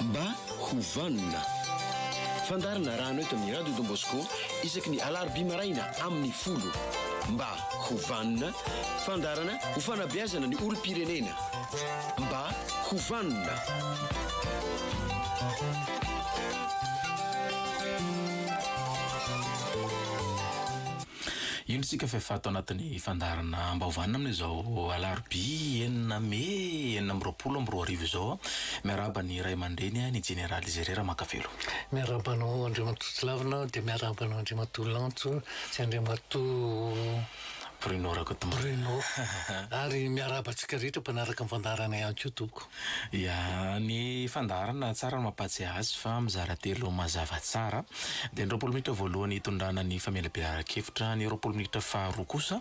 Mba ho vanona. Fandaharana arahanao eto amin'ny Radio Don Bosco isaky ny alarobia maraina amin'ny folo. Mba ho vanona. Fandaharana ho fanabeazana ny olom-pirenena. Mba ho vanona. Indro isika fa efa ato anatin'ny fandaharana Ambaovanina amin'izao alarobia enina mey enina amby roapolo amby roa arivo izao. Miarahaba ny ray aman-dreny, ny Jeneraly Izere Ramakavelo. Miarahaba anao Andriamatoa Tsilavina dia miarahaba anao Andriamatoa Lantso sy Andriamatoa Bruno Rakotomanga. Bruno. Ary miarahaba antsika rehetra mpanaraka ny fandaharana ihany koa tompoko. Ia, ny fandaharana tsara no mampahatsiahy azy fa mizara telo mazava tsara. Dia ny roapolo minitra voalohany hitondrana ny famelabelaran-kevitra, ny roapolo minitra faharoa kosa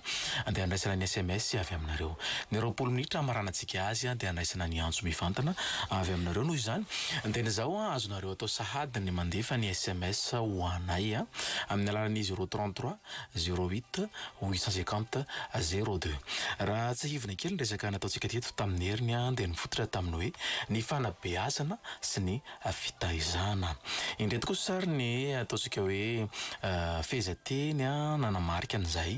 dia handraisana ny sms avy aminareo. Ny roapolo minitra hamaranantsika azy dia handraisana ny antso mivantana avy aminareo. Noho izany dia ny izao, azonareo atao sahady ny mandefa ny sms ho anay amin'ny alalan'izy roa trente trois. Zero huit, huit cent cinquante, zero deux. Raha tsiahivina kely ny resaka nataontsika teto tamin'ny heriny dia nifototra tamin'ny hoe ny fanabeazana sy ny fitaizana. Indreto kosa ary ny ataontsika hoe fehezanteny nanamarika an'izay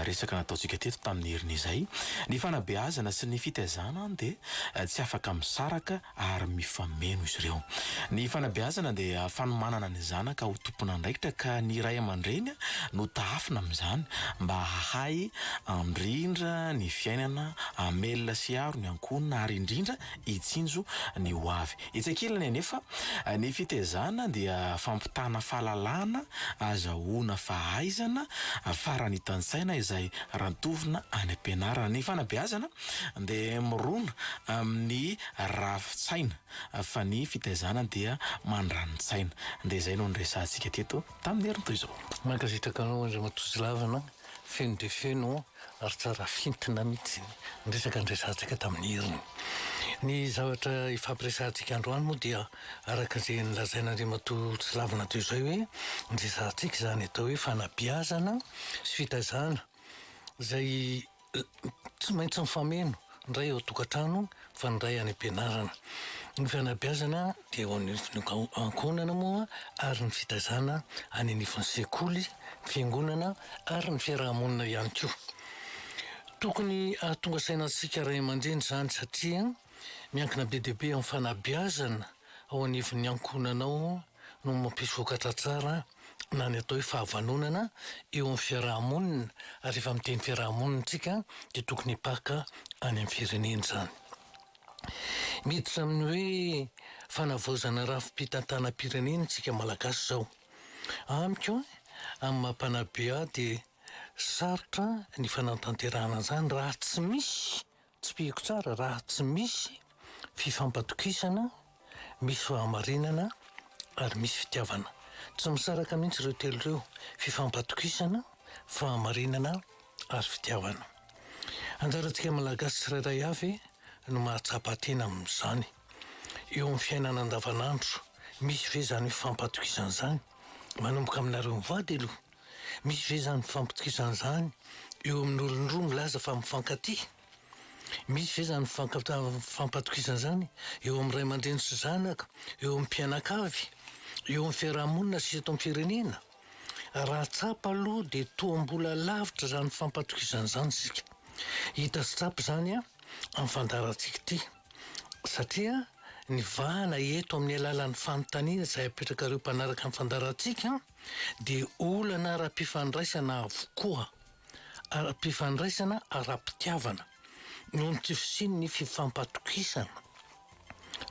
resaka nataontsika teto tamin'ny heriny izay. Ny fanabeazana sy ny fitaizana dia tsy afaka misaraka ary mifameno izy ireo. Ny fanabeazana dia fanomanana ny zanaka ho tompon'andraikitra ka ny ray aman-dreny no tahafina amin'izany mba hahay handrindra ny fiainana, hamelona sy hiaro ny ankohonana ary indrindra hitsinjo ny ho avy. Etsy ankilany anefa, ny fitezana dia fampitana fahalalana, azahoana fahaizana, faranitantsaina izay rantovina any am-pianarana. Ny fanabeazana dia mirona amin'ny rafi-tsaina fa ny fitaizana dia mandrani-tsaina. Dia izay no niresahantsika teto tamin'ny herintoy izao. Mankasitraka anao Andriamatoa Zilavina, feno dia feno ary tsara fintina mihitsy ny resaka niresahantsika tamin'ny heriny. Ny zavatra hifampiresahantsika androany moa dia araka izay nolazain'Andriamatoa Zilavina teo izay hoe niresahantsika izany atao hoe fanabeazana sy fitaizana izay tsy maintsy mifameno indray eo an-tokantrano fa ny iray any am-pianarana. Ny fanabeazana dia eo anivon'ny ankohonana moa ary ny fitaizana any anivon'ny sekoly, fiangonana ary ny fiaraha-monina ihany koa. Tokony hahatonga saina antsika ray aman-dreny izany satria miankina be dia be amin'ny fanabeazana ao anivon'ny ankohonanao no mampisokatra tsara na ny atao hoe fahavanonana eo amin'ny fiaraha-monina ary rehefa miteny fiaraha-monina isika dia tokony hipaka any amin'ny firenena izany. Miditra amin'ny hoe fanavaozana rafi-pitantanam-pirenena isika Malagasy izao. Amiko, amin'ny maha mpanabe ahy dia sarotra ny fanatanterahana an'izany raha tsy misy Tsipihiko tsara raha tsy misy fifampatokisana, misy fahamarinana ary misy fitiavana. Tsy misaraka mihitsy ireo telo ireo, fifampatokisana, fahamarinana ary fitiavana. Anjarantsika Malagasy tsirairay avy no mahatsapa tena amin'izany. Eo amin'ny fiainana andavanandro, misy ve izany fifampatokisana izany? Manomboka aminareo mivady aloha. Misy ve izany fifampitokisana izany eo amin'olon-droa milaza fa mifankatia? Misy ve izany fifankatokisana izany eo amin'ny ray aman-dreny sy zanaka, eo amin'ny mpianakavy, eo amin'ny fiaraha-monina sy eto amin'ny firenena? Raha tsapa aloha dia toa mbola lavitra izany fifampatokisana izany isika. Hita sy tsapa izany amin'ny fandaharantsika ity satria ny vahana eto amin'ny alalan'ny fanontaniana izay apetrakareo mpanaraka ny fandaharantsika, dia olana ara-pifandraisana avokoa, ara-pifandraisana ara-pitiavana, noho ny tsy fisian'ny fifampatokisana.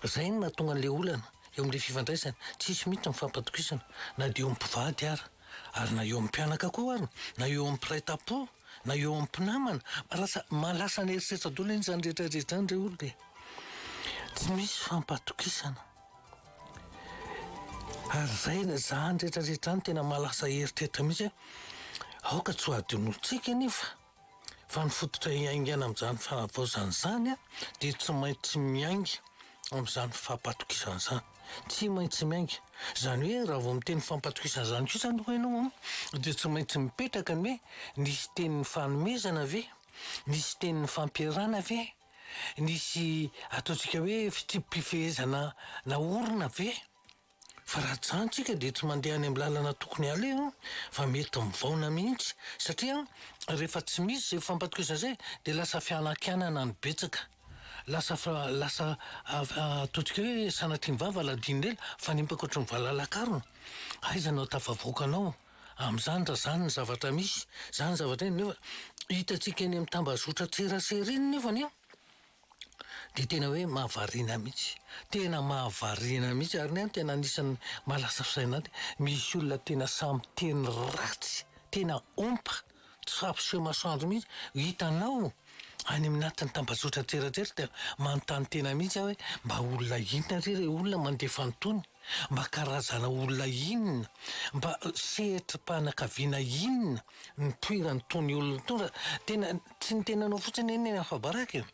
Izay no mahatonga an'ilay olana eo amin'ilay fifandraisana. Tsisy mihitsy ny fifampatokisana, na dia eo amin'ny mpivady ara, ary na eo amin'ny mpianaka koa ara, na eo amin'ny mpiray tam-po, na eo amin'ny mpinamana. Lasa, lasa any herisetra daholo anie izany rehetra rehetra izany re olona e! Tsy misy fifampatokisana. Ary zay le zany rehetra rehetra zany tena maha lasa eritreritra mihitsy hoe aoka tsy ho adinointsika anefa fa ny fototra iaingana amin'izany fanavaozana izany dia tsy maintsy miainga amin'izany fampatokisana izany. Tsy maintsy miainga. Izany hoe raha vao miteny fampatokisana izany koa izany hoy ianao an dia tsy maintsy mipetraka ny hoe nisy tenin'ny fanomezana ve? Nisy tenin'ny fampiharana ve? nisy ataontsika hoe fitsipi-pifehezana naorina ve? Fa raha ajanontsika dia tsy mandeha any amin'ny lalana tokony haleha fa mety mivaona mihitsy satria rehefa tsy misy izay fampatokiazana izay dia lasa fianakianana no betsaka. Lasa lasa ataontsika hoe sanatria ny vava aladian'ela fanimpa akoatry ny valalak'arona. Aiza no ahatafavoaka anao? Amin'izany raha izany ny zavatra misy, izany ny zavatra eny nefa hitantsika eny amin'ny tambazotran-tserasera eny nefa anie dia tena hoe mahavariana mihitsy. Tena mahavariana mihitsy ary ny ahy tena anisan'ny mahalasa saina ahy dia misy olona tena samy teny ratsy, tena ompa. Tsy fampiseho masoandro mihitsy. Hitanao any amin'ny atin'ny tambajotra an-tserantsera dia manontany tena mihitsy aho hoe mba olona inona re ireo olona mandefa an'itony? Mba karazana olona inona? Mba sehatrim-panakaviana inona no nipoiran'itony olona itony fa tena tsy ny tenanao fotsiny anie no afa-baraka e!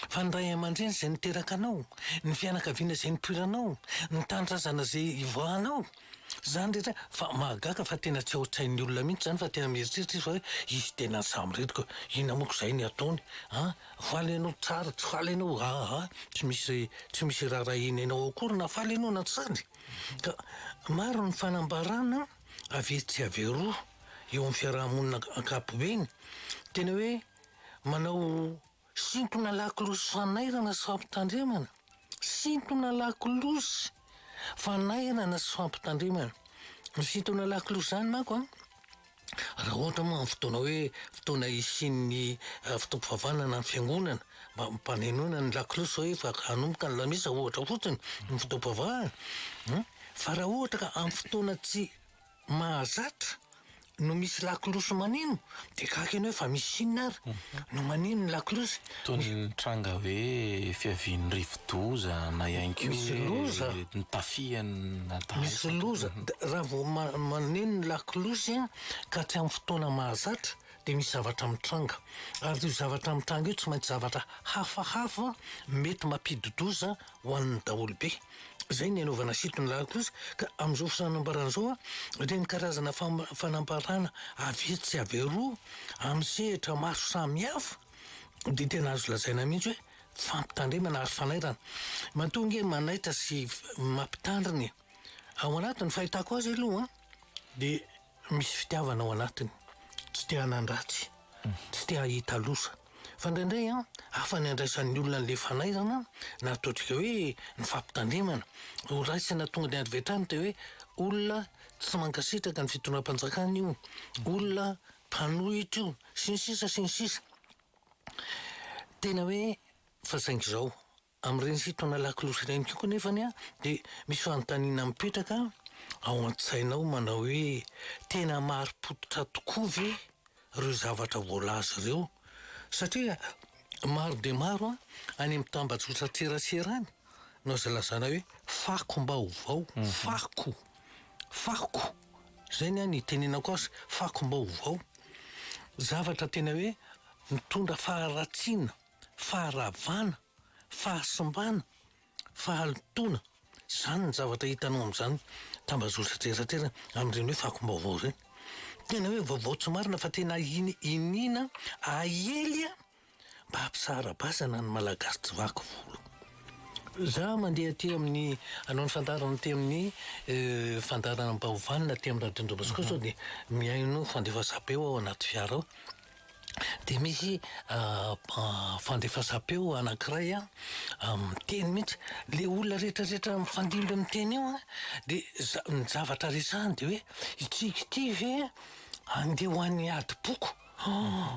Fa ny ray aman-dreny izay niteraka anao, ny fianakaviana izay nipoiranao, ny tanindrazana izay ivoahanao. Zany rehetra fa mahagaga fa tena tsy ao tsain'ny olona mihitsy zany fa tena mieritreritra izy fa hoe hisy tena ny samireto ka inona moa ko zay ny ataony a! faly enao tsara tsy faly enao aa tsy misy tsy misy irarahiana enao akory na faly enao na tsy faly ka maro ny fanambarana avy etsy sy avy eroa eo amin'ny fiaraha-monina ankapobeny tena hoe manao Sintona lakolosy fanairana sy fampitandremana Sintona lakolosy fanairana sy fampitandremana Ny sintona lakolosy izany manko an, raha ohatra moa amin'ny fotoana hoe fotoana hisian'ny fotoam-pivavahana na ny fiangonana mba hampanenoina ny lakolosy hoe efa hanomboka ny lamesa ohatra fotsiny ny fotoam-pivavahana, fa raha ohatra ka amin'ny fotoana tsy mahazatra no misy lakolosy maneno dia gaga ianao hoe fa misy inona ary no maneno ny lakolosy? Toy ny nitranga hoe fiavian'ny rivodoza na ihany koa Misy loza. hoe nitafian'ny dahalo Misy sampana. loza. D- Raha vao ma- maneno ny lakolosy an, ka tsy amin'ny fotoana mahazatra dia misy zavatra mitranga. Ary io zavatra mitranga io tsy maintsy zavatra hafahafa mety mampidi-doza ho an'ny daholobe. Izay ny anaovana site ny lahy kosa ka amin'izao fisanambarana izao a, ireny karazana fanambarana avy etsy sy avy eroa amin'ny sehatra maro samihafa dia tena azo lazaina mihitsy hoe fampitandremana ary fanairana. Matoa ange manaitra sy mampitandrina e. Ao anatin'ny fahitako azy aloha dia misy fitiavana ao anatiny, tsy te hanan-dratsy, tsy te hahita loza. Fa indraindray an, hafa ny andraisan'ny olona an'ilay fanairana na ataontsika hoe ny fampitandremana. Ho raisina tonga dia avy hatrany dia hoe olona tsy mankasitraka ny fitondram-panjakana io, olona mpanohitra io, sy ny sisa sy ny sisa. Tena hoe fa saingy izao Amin'ireny fitaona lakolosy ireny koa anefa dia misy fanontaniana mipetraka ao an-tsainao manao hoe, tena marim-pototra tokoa ve ireo zavatra voalaza ireo? Satria maro dia maro any amin'ny tambajotran-tserasera any no aza lazaina hoe fakom-baovao, fako, fako, izay ny ahy no itenenako azy, fakom-baovao. Zavatra tena hoe mitondra faharatsiana. faharavana, fahasimbana, fahalotoana. Izany ny zavatra hitanao amin'izany tambazotra an-tserantsera amin'ireny hoe fakom-baovao ireny. Tena hoe vaovao tsy marina fa tena in- iniana aely mba hampisara-bazana ny Malagasy tsy vaky volo. Za mandeha aty amin'ny hanao ny fandaharana aty amin'ny fandaharana Baovany na aty amin'ny Radio Domboscope sao dia mihaino fandefasabe ao anaty fiara ao. dia misy fandefasam-peo anankiray miteny mihitsy. Ilay olona rehetrarehetra mifandimby amin'ny teny io an, dia za- ny zavatra resahiny dia hoe itsika ity ve handeha ho any adim-poko?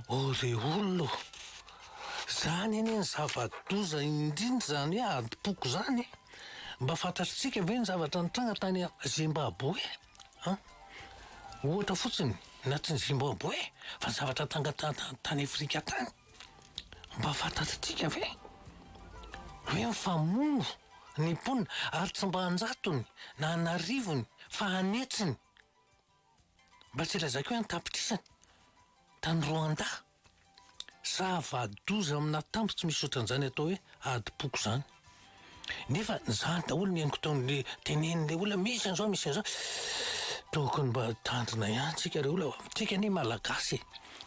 Oh ry olona o! Izany anie no zava-doza indrindra izany hoe adim-poko izany e! Mba fantatritsika ve ny zavatra nitranga tany Zimbaboe? An! Ohatra fotsiny na tsy ny Zimbabwe fa zavatra tangataha tany Afrika tany. Mba fantatritsika ve hoe mifamono ny mponina ary tsy mba anjatony na anarivony fa an'hetsiny. Mba tsy lazaiko hoe an-tapitrisany tany Rwanda. Zava-doza amina tambo tsy misy otran'izany atao hoe adim-poko izany. Nefa izany daholo ny haingon-taon'le tenenin'le olona misy an'izao misy an'izao. Tokony mba tandrina ihany tsika ry olona fa tsika anie malagasy e.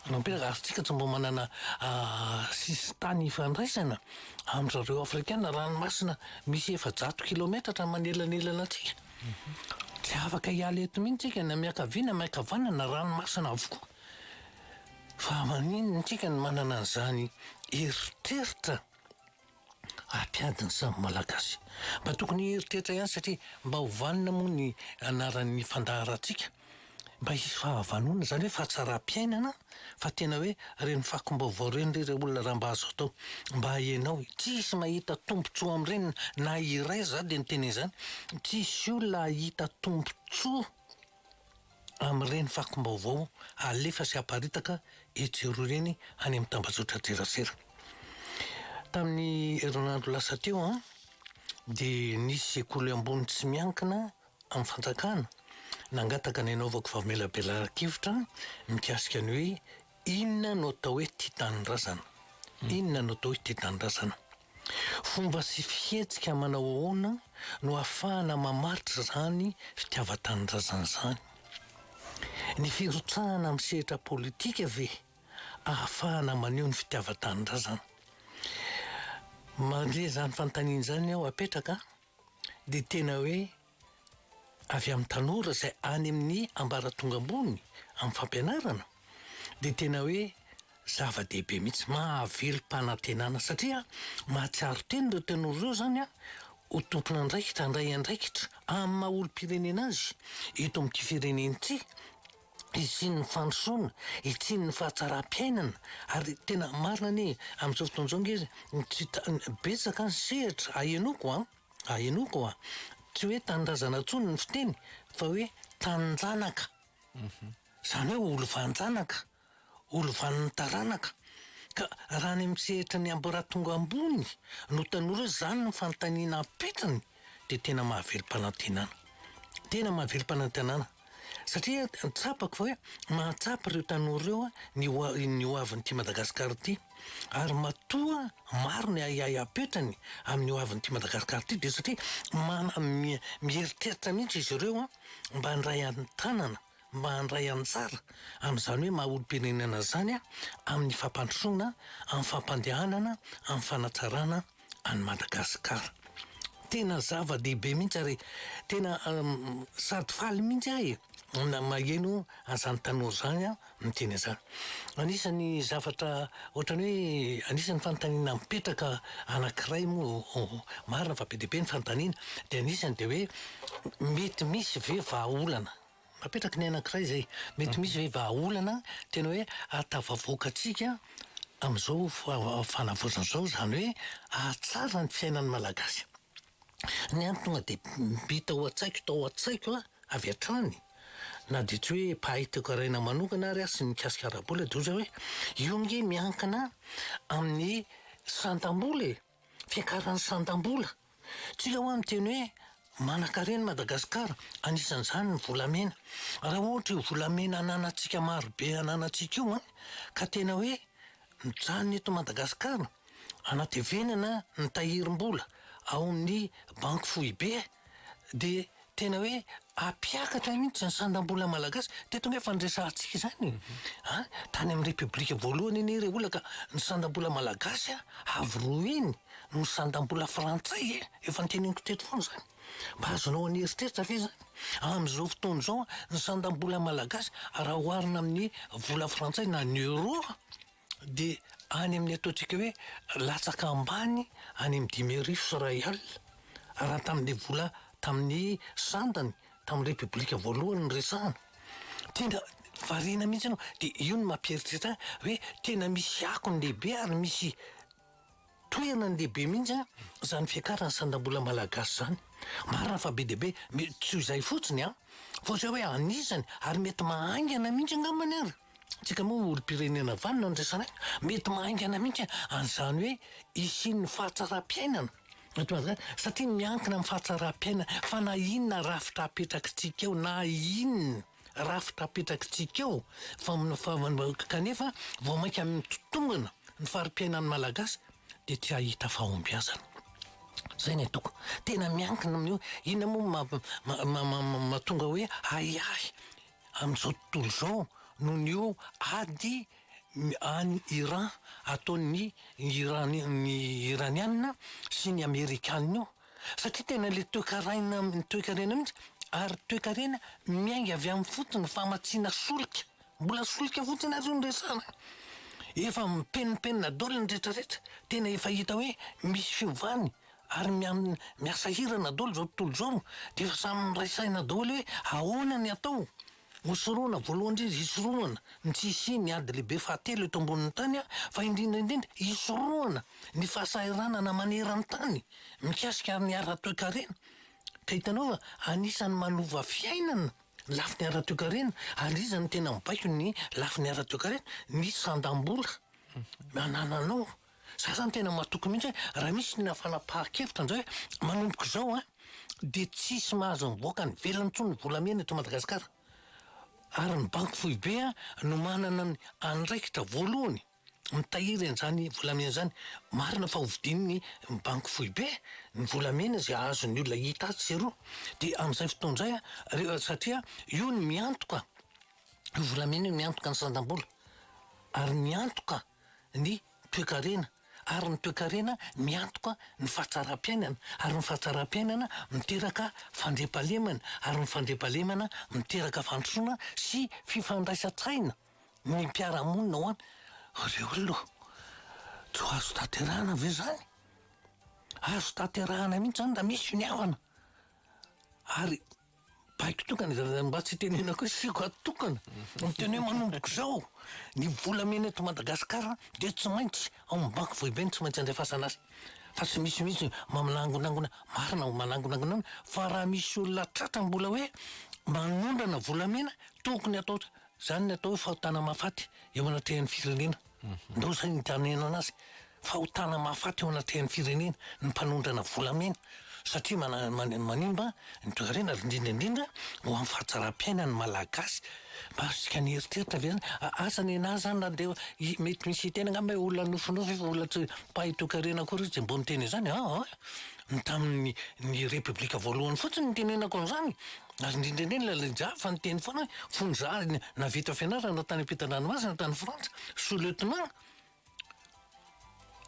Ny mpiaragasitsika tsy mba manana sisin-tany hifandraisana amin-drizareo afrikana ranomasina misy efajato kilometatra manelanelana antsika. Tsy afaka hiala eto mihitsy tsika na miankavia na miankavanana ranomasina avokoa. Fa maninona antsika no manana an'izany eritreritra hampiady ny samy Malagasy? Mba tokony hieritreritra ihany satria mba ho vanona moa ny anaran'ny fandaharantsika. Mba hisy fahavanona izany hoe fahatsaram-piainana fa tena hoe ireny fakom-baovao ireny re ry olona raha mba azo atao mba ianao e! Tsy hisy mahita tombontsoa amin'ireny na iray za dia niteny an'izany, tsy hisy olona hahita tombontsoa. amin'ireny fakom-baovao alefa sy aparitaka etsy sy eroa ireny any amin'ny tambajotran-tserasera. Tamin'ny herinandro lasa teo dia nisy sekoly ambony tsy miankina amin'ny fanjakana nangataka ny hanaovako famelabelaran-kevitra mikasika ny hoe Inona no atao hoe tia tanindrazana? Inona no atao hoe tia tanindrazana? Fomba sy fihetsika manao ahoana no ahafahana mamaritra izany fitiavan-tanindrazana izany? Ny firotsahana amin'ny sehatra politika ve ahafahana maneho ny fitiavan-tanindrazana? Mandre izany fanontaniana izany aho apetraka dia tena hoe avy amin'ny tanora izay any amin'ny ambaratonga ambony amin'ny fampianarana dia tena hoe zava-dehibe mihitsy, mahavelom-panantenana satria mahatsiaro tena ireo tanora ireo izany ho tompon'andraikitra handray andraikitra amin'ny maha olom-pirenena azy eto amin'ity firenena ity, hisian'ny fandrosoana, hisian'ny fahatsaram-piainana ary tena marina anie amin'izao fotoana izao ange tsy betsaka ny sehatra ahenoko an! ary henoiko a, tsy hoe tanindrazana intsony ny fiteny fa hoe taninjanaka, izany hoe olovanjanaka, olovan'ny taranaka, ka raha any amin'ny sehatry ny ambaratonga ambony no tanora izany no fanontaniana ampitrany dia tena mahavelom-panantenana, tena mahavelom-panantenana. Satria tsapako fa hoe mahatsapa ireo tanora ireo ny ho ny ho avin'ity Madagasikara ity. Ary matoa maro ny ahiahy apetrany amin'ny ho avin'ity Madagasikara ity dia satria mana- mi- mieritreritra mihitsy izy ireo mba handray an-tanana, mba handray anjara amin'izany hoe maha olom-pirenena izany amin'ny fampandrosoana, amin'ny fampandehanana, amin'ny fanatsarana any Madagasikara. Tena zava-dehibe mihitsy ary tena um, sady faly mihitsy ahy e. na maheno azany tanora zany a miteny azany anisan'ny zavatra ohatrany hoe anisan'ny fanontaniana mipetraka anankiray moa marina fa be dia be ny fanontaniana dia anisany dia hoe mety misy ve vahaolana Mapetraky ny anankiray izay. Mety misy ve vahaolana tena hoe ahatafavoakantsika amin'izao fanavaozana izao, izany hoe ahatsara ny fiainan'ny Malagasy? Ny antony tonga dehibe tao an-tsaiko tao an-tsaiko avy hatrany na dia tsy hoe mpahay toekaraina manokana ary aho sy mikasika ara-bola dia ohatra hoe io ange miankina amin'ny santam-bola e! Fiakaran'ny sandam-bola. Tsika hoa miteny hoe manankarena i Madagasikara, anisan'izany ny volamena. Raha ohatra io volamena ananantsika marobe ananantsika io an, ka tena hoe mijanona eto Madagasikara, anatevenana ny tahirim-bola ao amin'ny banky foibe dia. Tena hoe hampiakatra mihitsy ny sandam-bola malagasy. Teto ange efa niresahantsika izany e! Tany amin'ny Repoblika voalohany anie ilay olona ka ny sandam-bola malagasy avo roa heny noho ny sandam-bola frantsay e! Efa noteneniko teto foana izany. Mba azonao an'eritreritra ve izany? Amin'izao fotoana izao ny sandam-bola malagasy raha oharina amin'ny vola frantsay na ny euro. Dia any amin'ny ataontsika hoe latsaka ambany any amin'ny dimy arivo sy iray alina, raha tamin'ilay vola tamin'ny sandany tamin'ny Repoblika voalohany no resahana. Tena variana mihitsy ianao. Dia io no mampieritreritra ahy hoe tena misy akony lehibe ary misy. Tohina ny lehibe mihitsy an zany fiakarany sandambola malagasy zany. Marina fa be dia be mety tsy ho izay fotsiny an! Fa ohatry ny hoe anisany ary mety mahaingana mihitsy angambany ary! Tsika moa olompirenena vanona no resanay, mety mahaingana mihitsy an'izany hoe hisian'ny fahatsaram-piainana eto Madagasikara satria miankina amin'ny fahatsaram-piainana fa na inona rafitra apetrakitsika eo na inona rafitra apetrakitsika eo kanefa vao mainka mitombina ny fari-piainan'ny Malagasy dia tsy hahita fahombiazana. Izay no ataoko. Tena miankina amin'io. Inona moa no mahatonga hoe ahiahy amin'izao tontolo izao noho ny io ady any Iran ataon'ny Iraniana sy ny Amerikana io? Satria tena ilay toekaraina, toekarena mihitsy, ary toekarena miainga avy amin'ny fotony, famatsiana solika. Mbola solika fotsiny ary io no resahana. Efa mipenimpenina daholo ny rehetra rehetra. Tena efa hita hoe misy fiovany ary miasa hirana daholo izao tontolo izao. Dia efa samy miray saina daholo hoe ahoana ny atao. Mosoroana, voalohany indrindra, hisorohana ny tsy hisian'ny ady lehibe fahatelo eto ambonin'ny tany, fa indrindra indrindra, hisorohana ny fahasahiranana maneran-tany mikasika ny ara-toekarena. Ka hitanao fa anisan'ny manova fiainana ny lafiny ara-toekarena, ary iza no tena mibaiko ny lafiny ara-toekarena? Ny sandam-bola anananao Za zany tena matoky mihitsy hoe raha misy olona fanapahan-kevitra ndray hoe manomboka izao an, dia tsisy mahazo mivoaka any ivelany intsony ny volamena eto Madagasikara. Ary ny banky foibe no manana ny andraikitra voalohany mitahiry an'izany volamena izany. Marina fa hovidian'ny banky foibe ny volamena izay azon'ny olona hita atsy sy eroa. Dia amin'izay fotoana izay an, re- satria io no miantoka, io volamena io no miantoka ny sandam-bola. Ary ny antoka. ny toekarena ary ny toekarena miantoka ny fahatsaram-piainana ary ny fahatsaram-piainana miteraka fandriampahalemana ary ny fandriampahalemana miteraka fandrosoana sy fifandraisan-tsaina ny mpiara-monina ao aminy. Ry olona ô! Tsy ho azo tanterahana ve izany? Azo tanterahana mihitsy izany raha misy finiavana ary. Baiko tokana izany mba tsy tenenako hoe siko ato tokana. Miteny hoe manomboka izao ny volamena eto Madagasikara dia tsy maintsy ao amin'ny banky foibe no tsy maintsy andefasana azy. Fa tsy misy mihitsy manangonangona, marina ho manangonangona fa raha misy olona tratra mbola hoe manondrana volamena tokony atao izany ny atao hoe fahotana mahafaty eo anatrehan'ny firenena. Ndao zay ny tanenana azy fahotana mahafaty eo anatrehan'ny firenena ny mpanondrana volamena satria manimba ny toekarena ary indrindra indrindra ho an'ny fahatsaram-piainan'ny malagasy mba asika ny eritreritra ve zany aza ny anah zany na dia mety misy hiteny angamba hoe olona nofinofy fa olona tsy mpahay toekarena akory izy dia mbola miteny izany aa ny tamin'ny ny repoblika voalohany fotsiny ny tenenako an'izany Ary indrindra indrindra ilay lehijaly fa niteny foana hoe fony za navita fianarana tany ampitan-dranomasina tany Frantsa, sous lieutenant,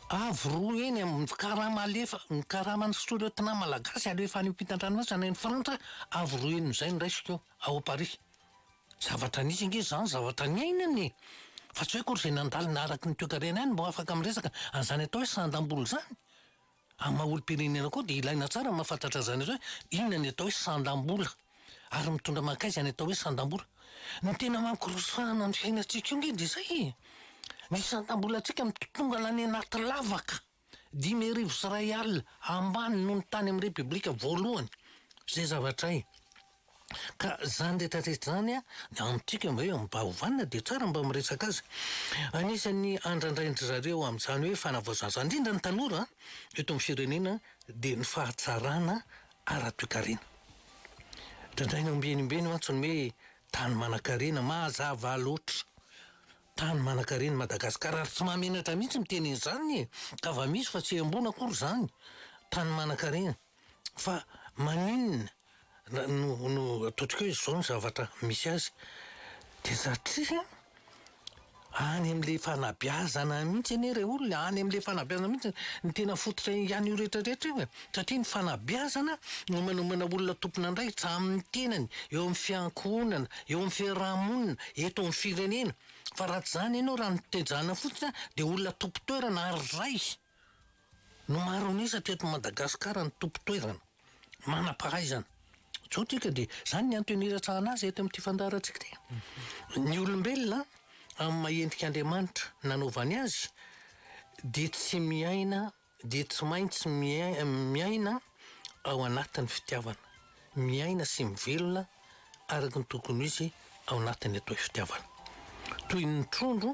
avo roa heny amin'ny karama alefa, ny karaman'ny sous lieutenant malagasy alefa any ampitan-dranomasina any Frantsa, avo roa heny izay no raisiko ao Paris. Zavatra nisy ange izany, zavatra niainana e! Fa tsy hoe akory izay nandalo naharaky ny toekarena ihany no afaka miresaka an'izany atao hoe sandam-bolo izany. Amin'ny maha olom-pirenena koa dia ilaina tsara ny mahafantatra izany hoe inona ny atao hoe sandam-bola ary mitondra mankaiza ny atao hoe sandam-bola. Ny tena mamkorosahana ny fiainantsika io nge dia izay e! Ny sandam-bolantsika mitontongana any anaty lavaka dimy arivo sy iray alina ambany noho ny tany amin'ny Repoblika voalohany. Izay zavatra hay. Ka zany rehetra rehetra zany a amintsika mba hoe mba ovanina de tsara mba miresaka azy. Anisan'ny andrandrain-dry zareo amin'izany hoe fanavaozana zany indrindra ny tanora eto amin'ny firenena de ny fahatsarana ara-toekarena. Drandraina ambenimbeny mantsy ny hoe tany manan-karena, mazava loatra. Tany manan-karena i Madagasikara ary tsy mahamenatra mihitsy miteny an'izany e! Ka va misy fa tsy embona akory zany. Tany manan-karena. Fa maninona no no ataontsika hoe izao ny zavatra misy azy? Dia satria any amin'ilay fanabeazana mihitsy anie ilay olona, any amin'ilay fanabeazana mihitsy no tena fototra an'io rehetra rehetra io e! Satria ny fanabeazana no manomana olona tompon'andraikitra amin'ny tenany, eo amin'ny fiankohonana, eo amin'ny fiaraha-monina, eto amin'ny firenena. Fa raha tsy izany ianao, raha ny tezana fotsiny dia olona tompon-toerana ary ray! No maro an'isa teto Madagasikara ny tompon-toerana manam-pahaizana. Zao tsika dia zany ny antony iratsahana azy eto amin'ity fandaharantsika ity. Ny olombelona amin'ny maha endrik'Andriamanitra nanaovany azy dia tsy miaina dia tsy maintsy miaina ao anatin'ny fitiavana. Miaina sy mivelona araka ny tokony ho izy ao anatin'ny atao hoe fitiavana. Toy ny trondro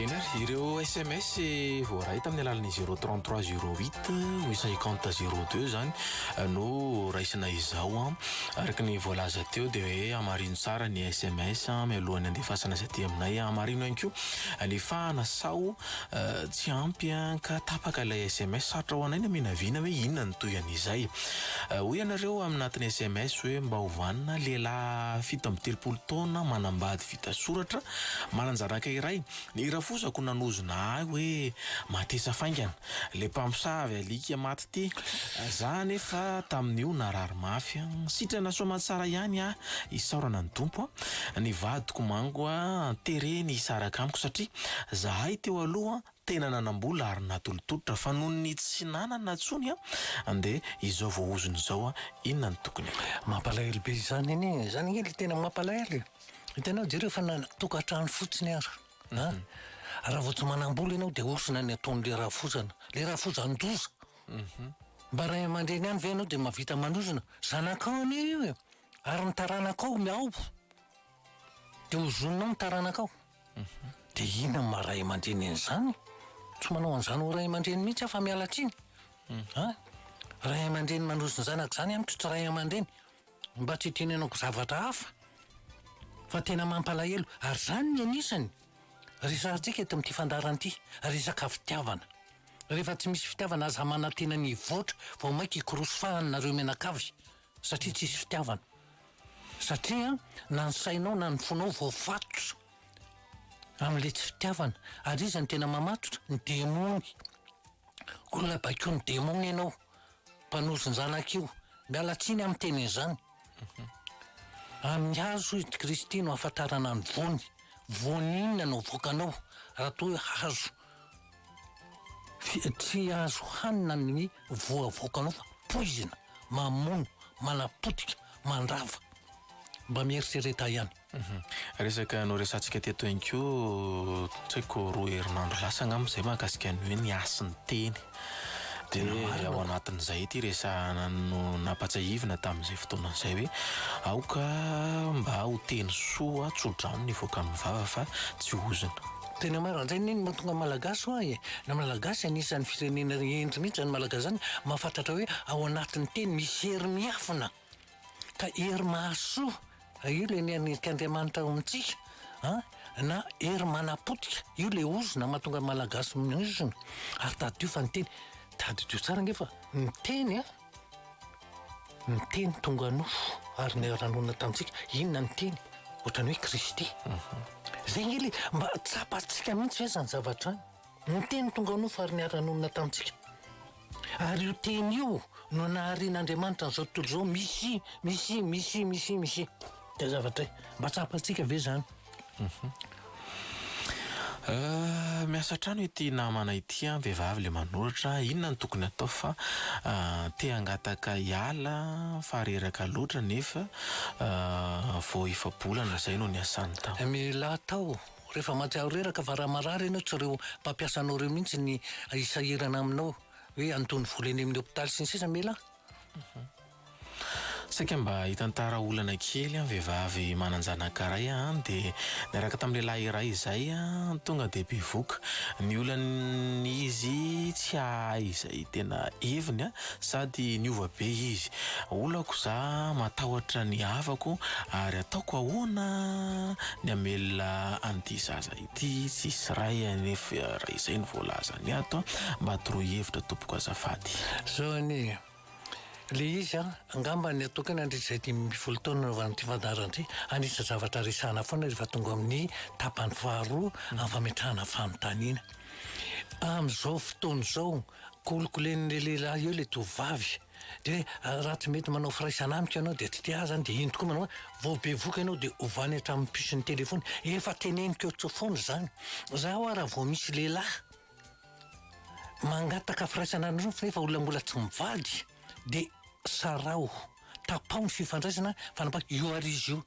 Eny ary, ireo SMS voaray tamin'ny alalan'ny zéro trente trois zéro huit ou cinquante zéro deux izany no raisina izao an. Araka ny voalaza teo dia hoe hamarino tsara ny SMS mialohan'ny handefasana azy aty aminay. Hamarino ihany koa ny fahana sao Tsy ampy ka tapaka ilay sms. Sarotra ho anay ny haminavina hoe inona ny toy an'izay. Hoy ianareo amin'ny anatin'ny sms hoe mba ho vanona, lehilahy fito amby telopolo taona manambady vita soratra, manan-janaka iray. Ny rafozako nanozona ahy hoe matesa faingana. Ilay mpamosavy alika maty Ty. Za anefa tamin'io narary mafy an. Sitrana soamatsara ihany ah isaorana ny Tompo an. Ny vadiko manko an tereny hisaraka amiko satria zahay teo aloha tena nanambola ary natolotolotra fa noho ny tsy nanana tsony an de izao voahozona izao an inona no tokony atao. Mampalahelo be izany anie, izany anie le tena mampalahelo e, hitanao jereo fa na tokantrano fotsiny ara. Na, raha vao tsy manam-bola ianao dia osona ny ataon'ilay rafozana, ilay rafozan-doza. Mba ray aman-dreny ihany ve ianao dia mahavita manozona? Zanakao anie io e! Ary ny taranakao mihaobo. Dia ozoninao ny taranakao. Dia inona no maha ray aman-dreny an'izany? Tsy manao an'izany ho ray aman-dreny mihitsy aho fa miala tsiny. An! Ray aman-dreny manozon-janaka izany amiko tsy ray aman-dreny. mba tsy hitenenako zavatra hafa fa tena mampalahelo ary izany ny anisany resahantsika eto amin'ity fandaharana ity, resaka fitiavana. Rehefa tsy misy fitiavana aza manantena ny hivoatra vao mainka hikorosy fahana nareo mianakavy satria tsisy fitiavana. Satria na ny sainao na ny fonao voafatotra amin'ilay tsy fitiavana ary iza no tena mamatotra? Ny demony. Olona baikoin'ny demony ianao Mpanosin-janaka io. Miala tsiny amin'ny teny izany. Amin'ny hazo hoy i Kristy no ahafantarana ny voany. Voany inona no avoakanao raha toa hoe hazo? Tsy azo hanina ny voa avoakanao fa poizina, mamono, manapotika, mandrava. Mba mieritrereta ihany. Resaka noresahantsika teto ihany koa, tsy haiko roa herinandro lasa angamba izay mahakasika ny hoe ny hasin'ny teny. Dia ao anatin'izay ity resahana no nampatsiahivina tamin'izay fotoana izay hoe aoka mba ho teny soa tso-drano ny hivoaka amin'ny vava fa tsy ozona. Tena marina indray anie ny mahatonga Malagasy ho ahy e! Na Malagasy anisan'ny firenena hendry mihitsy izany Malagasy izany mahafantratra hoe ao anatin'ny teny misy hery miafina. Ka hery mahasoa io ilay nianirik' Andriamanitra ao amintsika an, na hery manapotika io ilay ozona mahatonga ny Malagasy mihozona, ary tadidio fa ny teny, tadidio tsara ange fa ny teny an, ny teny tonga nofo ary niara-nonina tamintsika, inona ny teny? ohatran'ny hoe Kristy, zay ange ilay mba tsapantsika mihitsy ve izany zavatra izany? Ny teny tonga nofo ary niara-nonina tamintsika. Ary io teny io no naharian'Andriamanitra an'izao tontolo izao, Misy, misy, misy, misy, misy. Dia zavatra e. Mba tsapantsika ve izany? Miasa hatrany ity namana ity an, vehivavy ilay manoratra, inona no tokony hatao fa te hangataka hiala fa reraka loatra nefa vao efa-bolana izay no niasany tao. Mila atao Rehefa maty aho reraka fa raha marary ianao tsy ireo mpampiasa anao ireo mihitsy ny hisahirana aminao hoe andoha ny vola eny amin'ny hopitaly sy ny sisa me lah. Saika mba hitantara olana kely an vehivavy manan-janaka iray an dia niaraka tamin'ny lehilahy iray izay an tonga dia bevoka. Ny olany izy tsy hahay izay tena heviny an Sady niova be izy. Olako za matahotra ny havako ary ataoko ahoana ny hamelona an'ity zaza ity tsisy ray anefa raha izay no voalazany ato a! Mba toroy hevitra tompoko azafady. Zao anie e! Le izy an! Angamba ny atokany handritra izay dimy ambin'ny folo taona nanaovan'ity fandaharana ity, anisan-javatra resahana foana rehefa tonga amin'ny tapany faharoa amin'ny fametrahana fanontaniana. Amin'izao fotoana izao Kolikolen'ilay lehilahy eo ilay tovovavy. Dia raha tsy mety manao firaisana amiko ianao dia tsy te ahy izany dia iny tokoa manao hoe vao bevoka ianao dia ovany hatramin'ny puce ny téléphone. Efa teneniko eo tso foana izany. Za hoa raha vao misy lehilahy mangataka firaisana anao nefa olona mbola tsy mivady dia saraho, tapaho ny fifandraisana fa anapa io ary izy io.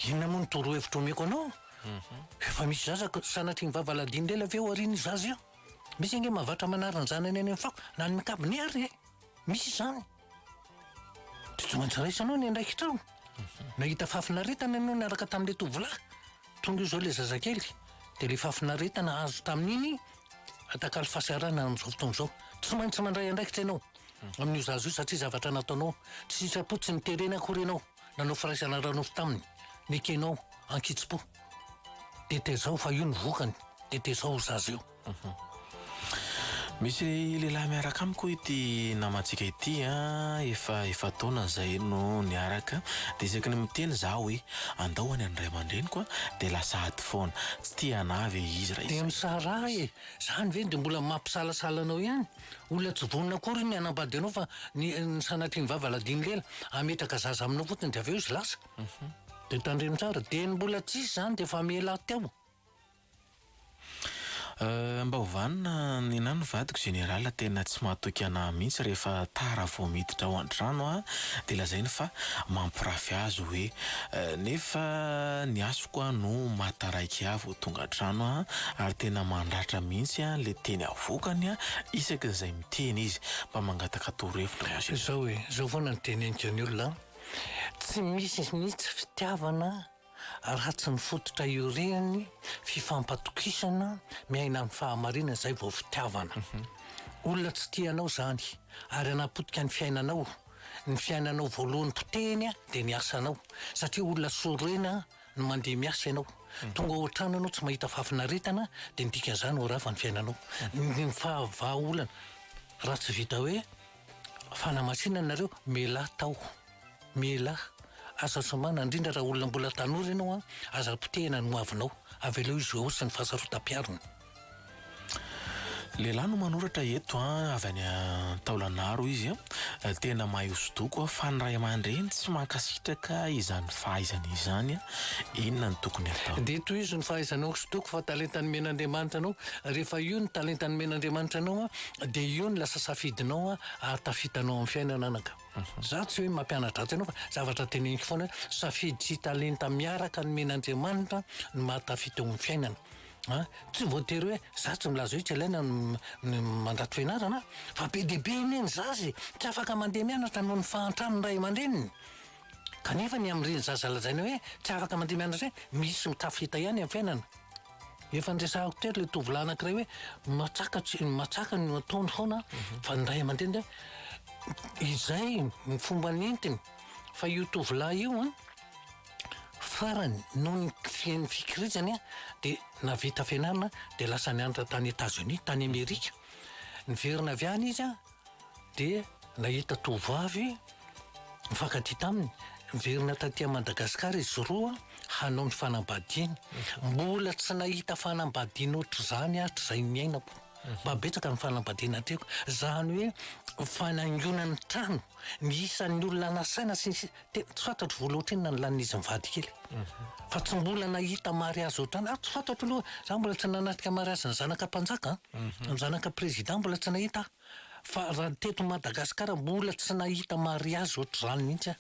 Inona moa ny torohevitra omeko anao? Efa misy zaza, sanatria ny vava aladino lela ve ho arian'ny zaza io? Misy ange mavatra manary ny zanany any amin'ny fako na any amin'ny kabone ary e! Misy izany. Dia tsy maintsy raisanao ny andraikitrao. Nahita fahafinaretana ianao niaraka tamin'ilay tovolahy. Tonga eo izao ilay zazakely. Dia ilay fahafinaretana azo tamin'iny atakalo fahasarana amin'izao fotoana izao. Tsy maintsy mandray andraikitra ianao amin'io zaza io satria zavatra nataonao. Tsy sitrapo, tsy niterena akory ianao. Nanao firaisana ara-nofo taminy ny kenao ankitsi-po. Dia tezao fa io ny vokany, dia tezao io zaza io. Mhm. Misy lehilahy miaraka amiko ity namantsika ity a, ah, efa efa taona izay no niaraka, dia isaky ny miteny za hoe andao any an'ray aman-dreniko a, dia lasa ady foana, tsy tia anah ve izy raha izy. Dia misaraha e, zany ve dia mbola mampisalasala anao ihany? Olona tsy vonona akory ny hanambady anao fa ny ny sanatrian'ny vava ladiany lela hametraka zaza aminao fotsiny dia avy eo izy lasa. Dia tandremo tsara. Dia ny mbola tsisy izany dia efa miela aho teo. Euh, mba ho vanona nenah ny vadiko général tena tsy mahatoky anah mihitsy rehefa tara vao miditra ao antrano ah dia lazainy fa mampirafy azy hoe euh, nefa ny hasiko ah no maha taraiky ahy. Tonga an-trano aho ary tena mandratra mihitsy ilay teny avokany isaky ny izay miteny izy mba mangataka torohevitra hoy aho. Izao e, izao foana no teneniko ny olona an, tsy misy mihitsy fitiavana raha tsy ny fototra iorihany, fifampatokisana, miaina amin'ny fahamarinana izay vao fitiavana. Olona tsy tia anao izany ary hanapotika ny fiainanao, ny fiainanao voalohany potehiny dia ny asanao satria olona sorena. ny mandeha miasa ianao, tonga ao an-trano ianao tsy mahita fahafinaretana dia ny dikan'izany ho rava ny fiainanao. Ny faha-vahaolana, raha tsy vita hoe fanamasinana nareo, mialahy tao, mialahy, aza somana, indrindra raha olona mbola tanora ianao an, aza potehina ny hoavinao, avelao hizohaosa ny fahasarotam-piarina. Lehilahy no manoratra eto a, avy any Taolanaro izy a. Tena mahay hosodoko a, fa ny ray aman-dreny tsy mankasitraka izany fahaizany izany. Inona no tokony atao? Dia tohizo ny fahaizanao hosodoko fa talenta nomen'Andriamanitra anao. Rehefa io no talenta nomen'Andriamanitra anao a, dia io no lasa safidinao a, ary tafitanao amin'ny fiainana anaka. Za tsy hoe mampianatra atsy anao fa zavatra teneniko foana hoe safidy sy talenta miaraka nomen'Andriamanitra no mahatafita eo amin'ny fiainana. An, tsy voatery hoe za tsy milaza hoe tsy ilaina ny mandrato fianarana fa be dia be anie ny zaza e! tsy afaka mandeha mianatra noho ny fahantran'ny ray aman-dreniny kanefa ny amin'ireny zaza lazaina hoe tsy afaka mandeha mianatra ireny misy mitafita ihany amin'ny fiainana. Efa niresahako teto ilay tovolahy anankiray hoe matsaka tsy matsaka no ataony foana fa ny ray aman-dreny dia izay ny fomba nentiny fa io tovolahy io an. Farany, noho ny fisian'ny fikiriantsany, dia nahavita fianarana dia lasa nianatra tany Etazonia, tany Amerika. Niverina avy any izy dia nahita tovovavy nifankatia taminy. Niverina taty Madagasikara izy roa hanao ny fanambadiany. Mbola tsy nahita fanambadiana ohatr'izany hatrizay niainako. Mba betsaka ny fanambadiana hatreko. Izany hoe fanaingoana ny trano, ny isan'ny olona nasaina sy ny sisa. Tena tsy fantatro vola ohatrinona ny lanin'izy mivady kely. Fa tsy mbola nahita mariazy ohatrany aho. Tsy fantatro aloha, za mbola tsy nanatrika mariazy ny zanaka mpanjaka an, ny zanaka président mbola tsy nahita aho. Fa raha teto Madagasikara mbola tsy nahita mariazy ohatr'izany mihitsy aho.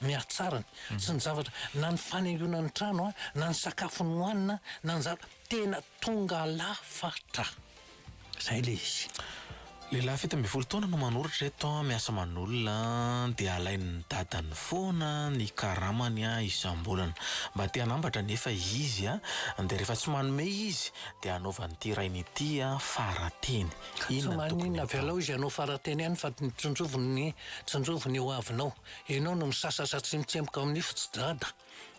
Ny hatsarany, sy ny zavatra, na ny fanaingoana ny trano an, na ny sakafo nohanina an, na ny zava-, tena tonga lafatra. Zay le izy. Lehilahy fito ambin'ny folo taona no manoratra eto, miasa aman'olona dia alain'ny dadany foana ny karamany isam-bolana. Mba te hanambatra anefa izy dia rehefa tsy manome izy dia anaovan'ity rainy ity farateny. Ka tsy maninona avelao izy hanao farateny ihany fa tsinjoviny ny tsinjoviny ny hoavinao. Ianao no misasasa tsy mitsemboka ao amin'ny nify tsy dada.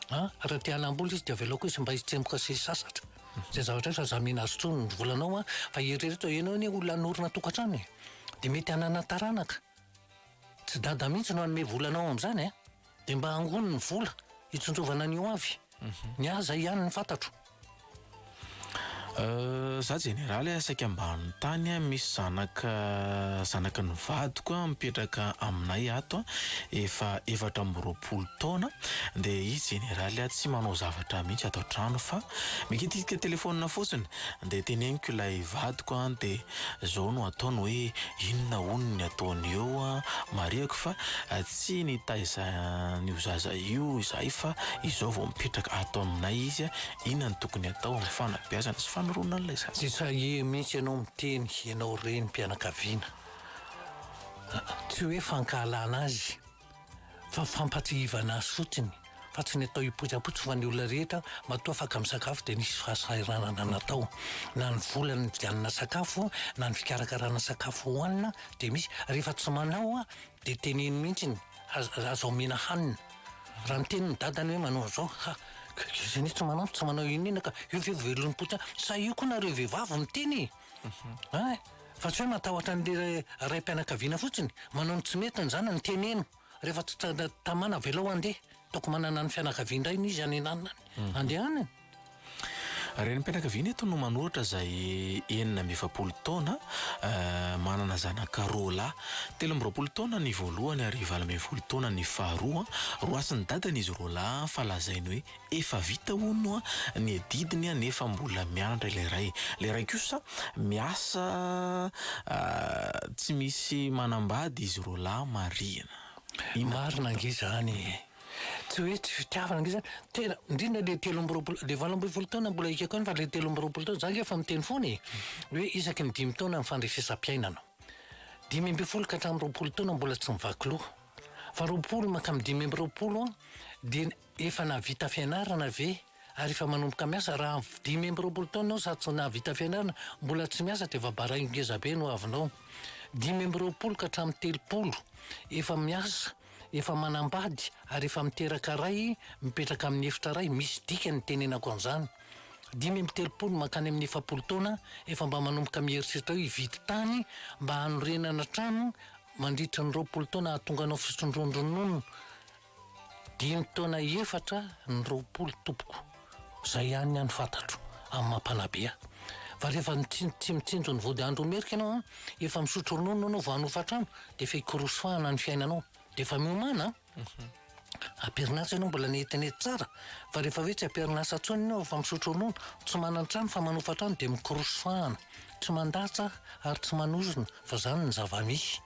An, raha te hanam-bola izy dia avelako izy mba hitsemboka sy hisasatra. Izay zavatra izay fa izaho mihena azy intsony ny volanao an, fa eritrereto hoe ianao anie olona hanorina tokantrano e, dia mety hanana taranaka, tsy dada mihitsy no hanome vola anao amin'izany an, dia mba angony ny vola hitsinjovana ny ho avy, ny ahy izay ihany no fantatro. Za jeneraly a, saika ambanin'ny tany a, misy zanaka zanaky ny vadiko a mipetraka aminay ato a, efa efatra amby roapolo taona dia izy jeneraly a tsy manao zavatra mihitsy ato an-trano fa mikitikitra telefaonina fotsiny dia teneniko ilay vadiko a dia Zao no ataony hoe inona hono ny ataony eo an! Marihako fa tsy nitaiza an'io zaza io izahay fa izao vao mipetraka ato aminay izy an! Inona no tokony atao amin'ny fanabeazana sy fanoroana an'ilay zaza? Tsy sahia mihitsy ianao miteny ianao renim-pianakaviana. Tsy hoe fankahalana azy. fa fampatsiahivana azy fotsiny fa tsy ny atao hipoitsapoitsy fa ny olona rehetra matoa afaka misakafo dia nisy fahasahiranana natao na ny vola ny vidianana sakafo na ny fikarakarana sakafo hohanina dia misy rehefa tsy manao a dia teneno mihitsy ny aza omena hanina raha ny teny ny dadany hoe manao an'izao ha izany tsy manao tsy manao inona inona ka io ve velon'ny poitra sa io koa nareo vehivavy miteny Ay, fa tsy hoe matahotra an'le raim-pianakaviana fotsiny, manao ny tsy mety ny zanany, teneno rehefa tsy tamana avelao handeha, ataoko manana ny fianakaviany indray ny izy any ananany handehanany. Renim-pianakaviana eto no manoratra izay enina amby efapolo taona, manana zanaka roa lahy, telo amby roapolo taona ny voalohany ary valo ambin'ny folo taona ny faharoa, roasin'ny dadany izy roa lahy fa lazainy hoe Efa vita hono ny adidiny nefa mbola miandry ilay iray. Ilay iray kosa miasa tsy misy manambady izy roa lahy marihina. Marina ange izany e! Tsy hoe tsy fitiavana ange izany. Tena, indrindra ilay telo amby roapolo, ilay valo ambin'ny folo taona mbola ekeko ihany fa ilay telo amby roapolo taona, izaho ange efa miteny foana e! hoe isaky ny dimy taona ny fandrefesam-piainana. Dimy ambin'ny folo ka hatramin'ny roapolo taona mbola tsy mivaky loha. Fa roapolo mankany amin'ny dimy amby roapolo dia ny. Efa nahavita fianarana ve ary efa manomboka miasa? Raha dimy amby roapolo taona aho sady tsy nahavita fianarana, mbola tsy miasa dia efa baraingo ngeza be no avinao. Dimy amby roapolo ka hatramin'ny telopolo, efa miasa, efa manambady ary efa miteraka ray mipetraka amin'ny efitra ray, misy dikany ny tenenako an'izany. Dimy amby telopolo mankany amin'ny efapolo taona, efa mba manomboka mieritreritra hoe hividy tany mba hanorenana trano mandritry ny roapolo taona hahatonga anao fisondrondronono Dimy taona efatra ny roapolo tompoko, zay ihany ny any fantatro amin'ny maha mpanabe ahy. Fa rehefa tsy mitsinjo ny vody andro merika ianao an, efa misotro ronono ianao vao hanofa trano dia efa hikorosy fahana ny fiainanao dia efa miomana an! Am-perinasa ianao mbola netinety tsara fa rehefa hoe tsy am-perinasa intsony ianao efa misotro ronono, tsy manan-trano fa manofa trano dia mikorosy fahana, tsy mandatsa ary tsy manozona fa zany ny zava-misy.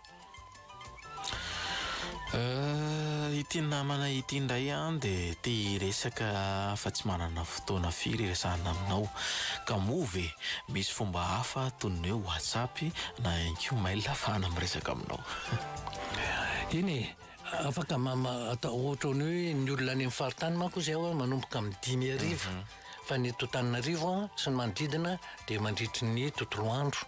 Ity namana ity indray an dia te hiresaka fa tsy manana fotoana firy hiresahana aminao ka moa ve misy fomba hafa toy ny hoe WhatsApp na ihany koa mail ahafahana miresaka aminao? Eny e, afaka mama- atao ohatran'ny hoe ny olona any amin'ny faritany manko izay manomboka amin'ny dimy hariva. fa ny eto Antananarivo sy ny manodidina dia mandritry ny tontolo andro,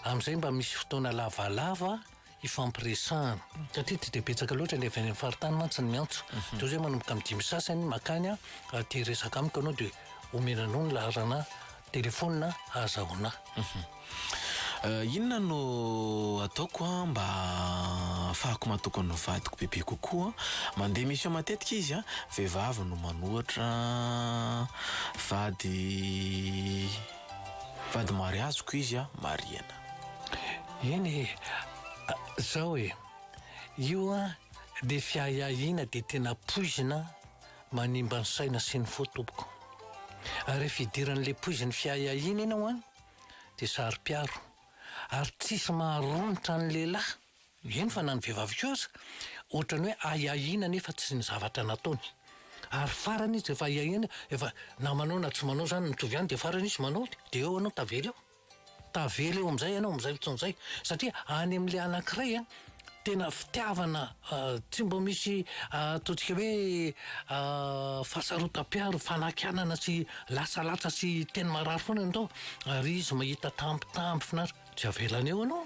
amin'izay mba misy fotoana lavalava hifampiresahana. Satria tsy dia betsaka loatra ny avy any amin'ny faritany mantsy ny miantso. Dia hoe izay manomboka amin'ny dimy sasany makany raha te hiresaka amiko ianao dia omena anao ny laharana telefaonina ahazahoana ahy. Inona no ataoko mba hahafahako matoky ny vadiko bebe kokoa? Mandeha mission matetika izy, vehivavy no manoatra, vady vady mariaziko izy, marihana. Eny e, zao e, io dia fiahiahiana dia tena poizina manimba ny saina sy ny fo tompoko. Ary rehefa idiran'le poizin'ny fiahiahiana iny ianao an, dia saro-piaro ary tsisy maharomotra ny lehilahy, eny fa na ny vehivavy koa aza, ohatran'ny hoe ahiahiana nefa tsy ny zavatra nataony ary farany izy efa ahiahiana efa na manao na tsy manao zany mitovy ihany dia farany izy manao dia eo ianao tavela eo, tavela eo amin'izay ianao amin'izay fotoana izay satria any amin'ilay anankiray an. tena fitiavana tsy mba misy ataontsika hoe fahasarotam-piaro, fanakianana sy lasalasa sy teny marary foana ny atao ary izy mahita tambitamby finaritra tsy avelany eo ianao,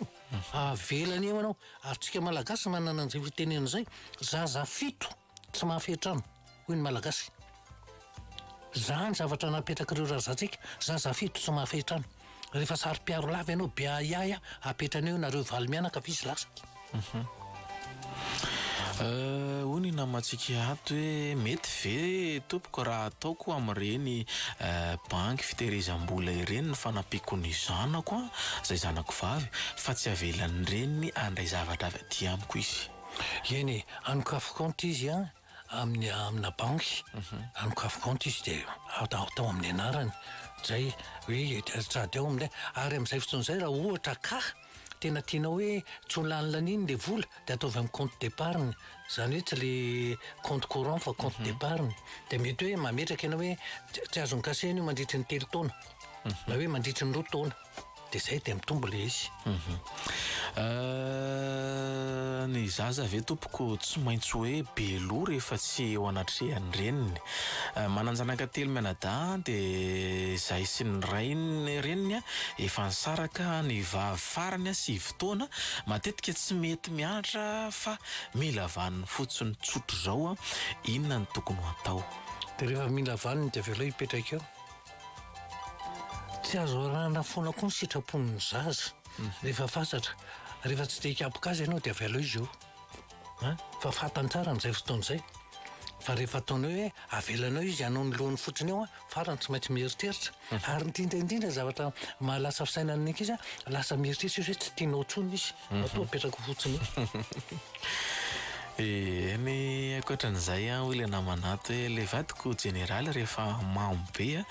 avelany eo ianao ary tsika malagasy manana an'izay fitenenana izay, zaza fito. Tsy mahafehy trano hoy ny malagasy. Zany zavatra napetrak'ireo razantsika, zaza fito tsy mahafehy trano. Rehefa saro-piaro lava ianao be ahiahy apetrany eo nareo valo mianaka avy izy lasa. Euh, hoy ny namantsika ato hoe mety ve tompoko raha ataoko amin'ireny banky fitehirizam-bola ireny ny fanampiako ny zanako an, izay zanako vavy fa tsy avelan'ny reniny handray zavatra avy aty amiko izy. Eny e, anokafy kaonty izy an, amin'ny amina banky, anokafy kaonty izy dia atao atao amin'ny anarany, izay hoe sady ao amin'ilay, ary amin'izay fotoana izay raha ohatra ka tena tianao hoe tsy ho lany laniny ilay vola dia ataovy amin'ny kaonty depariny, izany hoe tsy ilay kaonty courant fa kaonty depariny, dia mety hoe mametraka ianao hoe tsy azon'ny kasena io mandritry ny telo taona na hoe mandritry ny roa taona. de zay de mitombo le izy mhm. euh, ny zaza ve tompoko tsy maintsy hoe be loha rehefa tsy eo anatrehan'ny reniny euh, mananjanaka telo mianadaha de zay sy ny rainy reniny a efa nisaraka ny vavy farany a sy fotoana matetika tsy mety mianatra fa mila vaniny fotsiny tsotra zao a inona ny tokony ho atao de rehefa mila vaniny de avelao hipetraka eo Tsy azo arahana foana koa ny sitrapon'ny zaza rehefa fasatra. Rehefa tsy dia hikapoka azy ianao dia avy aleo izy io. An, fa fantany tsara amin'izay fotoana izay. Fa rehefa ataonao hoe avelanao izy hanao ny lohany fotsiny eo an, farany tsy maintsy mieritreritra. Ary ny indrindra indrindra ny zavatra mahalasa fisainana ny ankizy an, lasa mieritreritra izy hoe tsy tianao intsony izy. Matoa apetrako fotsiny io. Eny ankoatran'izay an, hoy ilay namana ato hoe ilay vadiko jeneraly rehefa mamo be an,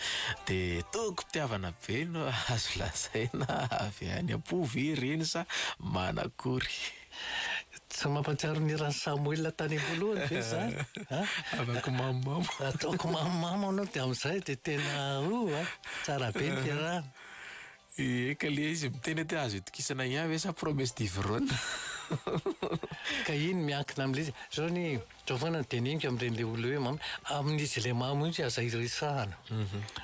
dia tokim-pitiavana be no azo lazaina avy any am-po ve ireny sa manakory? Tsy mampahatsiaro ny hiran'i Samoela tany am-boalohany ve izany an? Havako mamomamo. Ataoko mamomamo anao dia amin'izay dia tena oh an! Tsara be ny fiarahana. Eka le izy miteny ety azo itokisana ian ve sa promesse du vrona. Ka iny miankina amle izy, zao anie e, zao foana ny dinihinko amreny le olona hoe mamy, amin'izy ilay mamy mihitsy aza iresahana,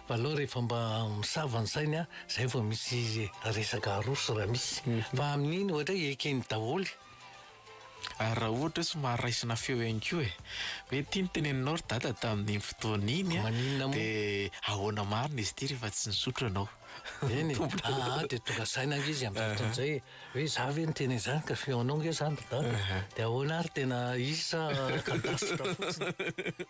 fa aleo rehefa mba misava ny sainy an, zay vao misy resaka aroso raha misy, fa amin'iny ohatra hoe eken'ny daholo Ary raha ohatra hoe somary raisina feo ihany koa e! Hoe ty ny teneninao ry dada tamin'iny fotoana iny an! Maninona moa? Dia ahoana marina izy ity rehefa tsy nisotro ianao? Eny e! Aa dia tonga saina ange izy amin'izay fotoana izay e! Hoe za ve niteny an'izany ka feonao ange izany ry dada? Dia ahoana ary tena izy sa kadasitra fotsiny?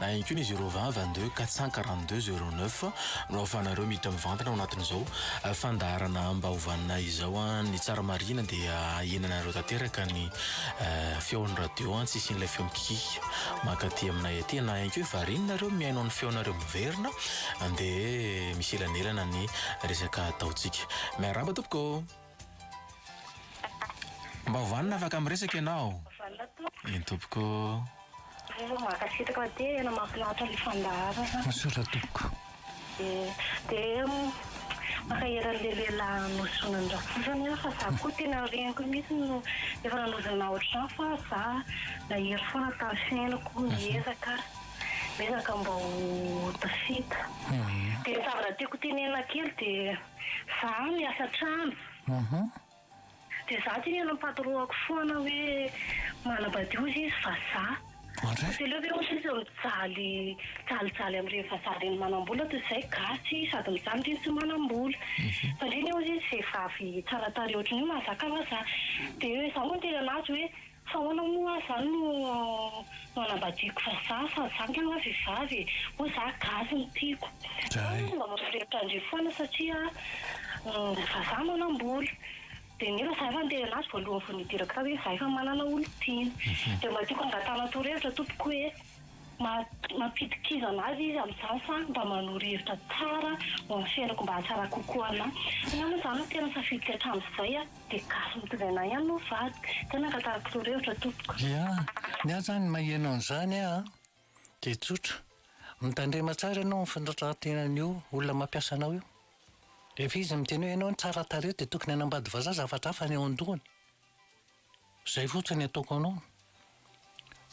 Na ihany koa ny zéro vingt vingt deux quatre cent quarante deux zéro neuf no ahafahanareo miditra mivantana ao anatin'izao fandaharana ambahovanay izao an. Ny tsara marihina dia ahenanareo tanteraka ny feon'ny radio an, tsy hisian'ilay feo mikikiaka mankaty aminay aty. Na ihany koa variana nareo mihaino ny feonareo miverina dia misy elanelana ny resaka ataontsika. Miarahaba tompoko. Mba vanona afaka miresaka ianao? Vanona tompoko. Eny tompoko. Mba mankasitraka fa tena mahafinaritra le fandaharana. Misaotra tompoko. De mankahery anle lehilahy nozonany rafozany aho fa za koa tena reniko mihitsy no efa nanozona otrany fa za nahery foana tamin'ny fiainako niezaka niezaka mba ho tafita de ny zavatra tiako tenenina kely de Za miasa trano. Aha. Dia za aty mihaino ny patroako foana hoe manabadio hozy izy vazaha. Fa tsy aleo ve hozy izy mijaly jalijaly amin'ireny vazaha ireny manambola toy izay gasy sady mijaly ndry tsy manambola. Fa ndry anie hozy izy vehivavy tsara tarehy ohatran'io mahazaka vazaha. Dia za moa niteny an'azy hoe. Fa ahoana moa aho zany no manambadiako vazaha fa za nga nga vehivavy e! Moa za gasy no tiako. Za aloha mba mampirehitra an-dry foana satria vazaha manam-bola. Dia nefa za efa niteny anazy voalohany vao nidirako tao hoe za efa manana olon-tiana. Dia mba tiako hangatahana torohevitra tompoko hoe ma- mampidi-kizana azy izy amin'izany sa mba manoro hevitra tsara ho an'ny fiainako mba hahatsara kokoa an'ahy. Angamba izany no tena safidiko hatramin'izay an! Dia gasy mitondra anah ihany no vadiko. Tena angatariko torohevitra tompoko. Ia, ny ahy zany maheno an'izany aho dia tsotra, mitandrema tsara ianao amin'ny fitondran-tenan'io olona mampiasa anao io. Rehefa izy miteny hoe ianao tsara tarehy dia tokony hanambady vazaha zavatra hafa ny eo an-dohany. Zay fotsiny ny ataoko anao,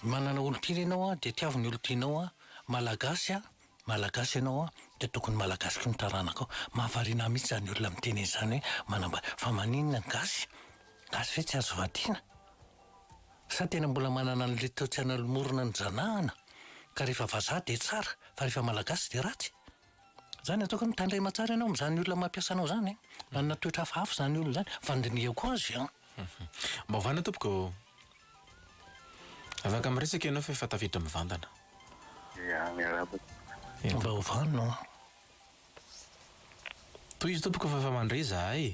manana olon-tiana ianao an, dia tiavo ny olon-tianao an, Malagasy an, Malagasy ianao an, dia tokony Malagasy koa ny taranakao, mahavariana ahy mihitsy izany olona miteny an'izany hoe manambady, fa maninona ny gasy? Gasy ve tsy azo vadiana? Sa tena mbola manana an'ilay toetsaina lomorina nojanahana ka rehefa vazaha dia tsara fa rehefa Malagasy dia ratsy? Izany ataoko hoe mitandrema tsara ianao amin'izany olona mampiasa anao izany an! Manana toetra hafahafa izany olona izany fa andinihako azy an! Mba ovana tompoko ô! Afaka miresaka ianao fa efa tafiditra mivantana. Ia, miarahaba tompoko. Mba ovano an! Tohizo tompoko fa efa mandre izahay e!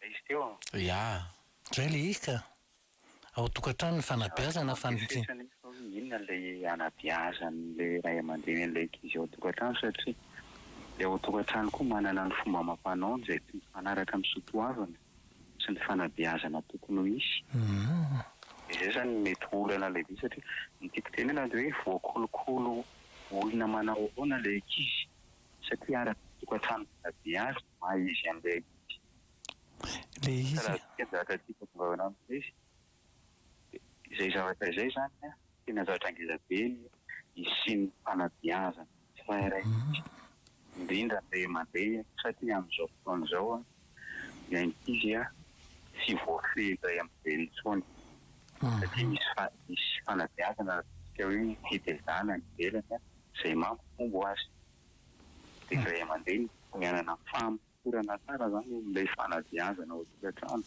Ilay izy teo an. Ya. Zay le izy ka. Ao tokantrano ny fanabeazana fa ny. Aza mampiresesana eto fa hoe inona ilay anabeazan'ilay ray aman-dreny an'ilay ankizy ao an-tokantrano satria ilay ao an-tokantrano koa manana ny fomba amam-panaony izay tsy mifanaraka amin'ny soatoavina sy ny fanabeazana tokony ho hisy. Dia izay izany no mety ho olana lehibe satria ny tiako tenena dia hoe voakolokolo olona manao ahoana ilay ankizy satria araka ny tokantrano nanabe azy maha izy an'ilay izy. Ilay izy. Raha isika ny zavatra tiako hazavaina amin'ilay izy dia izay zavatra izay izany an, tena zavatra ngeza be ny hisian'ny fanabeazana tsirairay antsika, indrindra ny ray aman-dreny satria amin'izao fotoana izao an, ny ankizy an, tsy voafehin'ny ray aman-dreny intsony satria misy fa, misy fanabeazana ataontsika hoe tetezana any ivelany an, izay mampihombo azy. Dia ny ray aman-dreny tsy hanana fahamorana tsara izany eo amin'ilay fanabeazana ao an-tokantrano.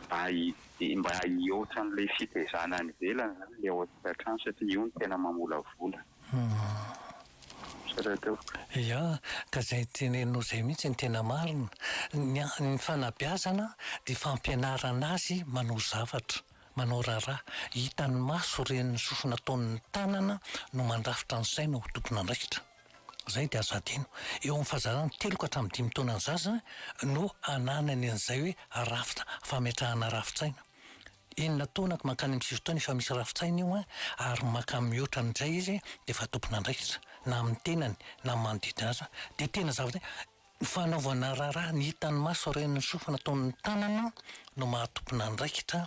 Mba hi, mba hihoatra an'ilay fitaizana any ivelany izany ilay ao an-tokantrano satria io no tena mamolavola. Izay no ataoko. Ia, ka izay teneninao izay mihitsy no tena marina. Ny, ny fanabeazana dia fampianarana azy manao zavatra. Manao raharaha, hitan'ny maso ireny sofina ataon'ny tanana no mandrafitra ny saina ho tompon'andraikitra. Izay dia azo hadino. Eo amin'ny fahazarana telo ka hatramin'ny dimy taona ny zaza no ananany an'izay hoe rafitra, fametrahana rafitsaina. Enina taona ka mankany amin'ny sivy taona efa misy rafitsaina io ary mankany mihoatra amin'izay izy dia efa tompon'andraikitra na amin'ny tenany na amin'ny manodidina azy. Dia tena zavatra Fanaovana raharaha ny hitan'ny maso ary ny sofina toy ny tanana no maha tompon'andraikitra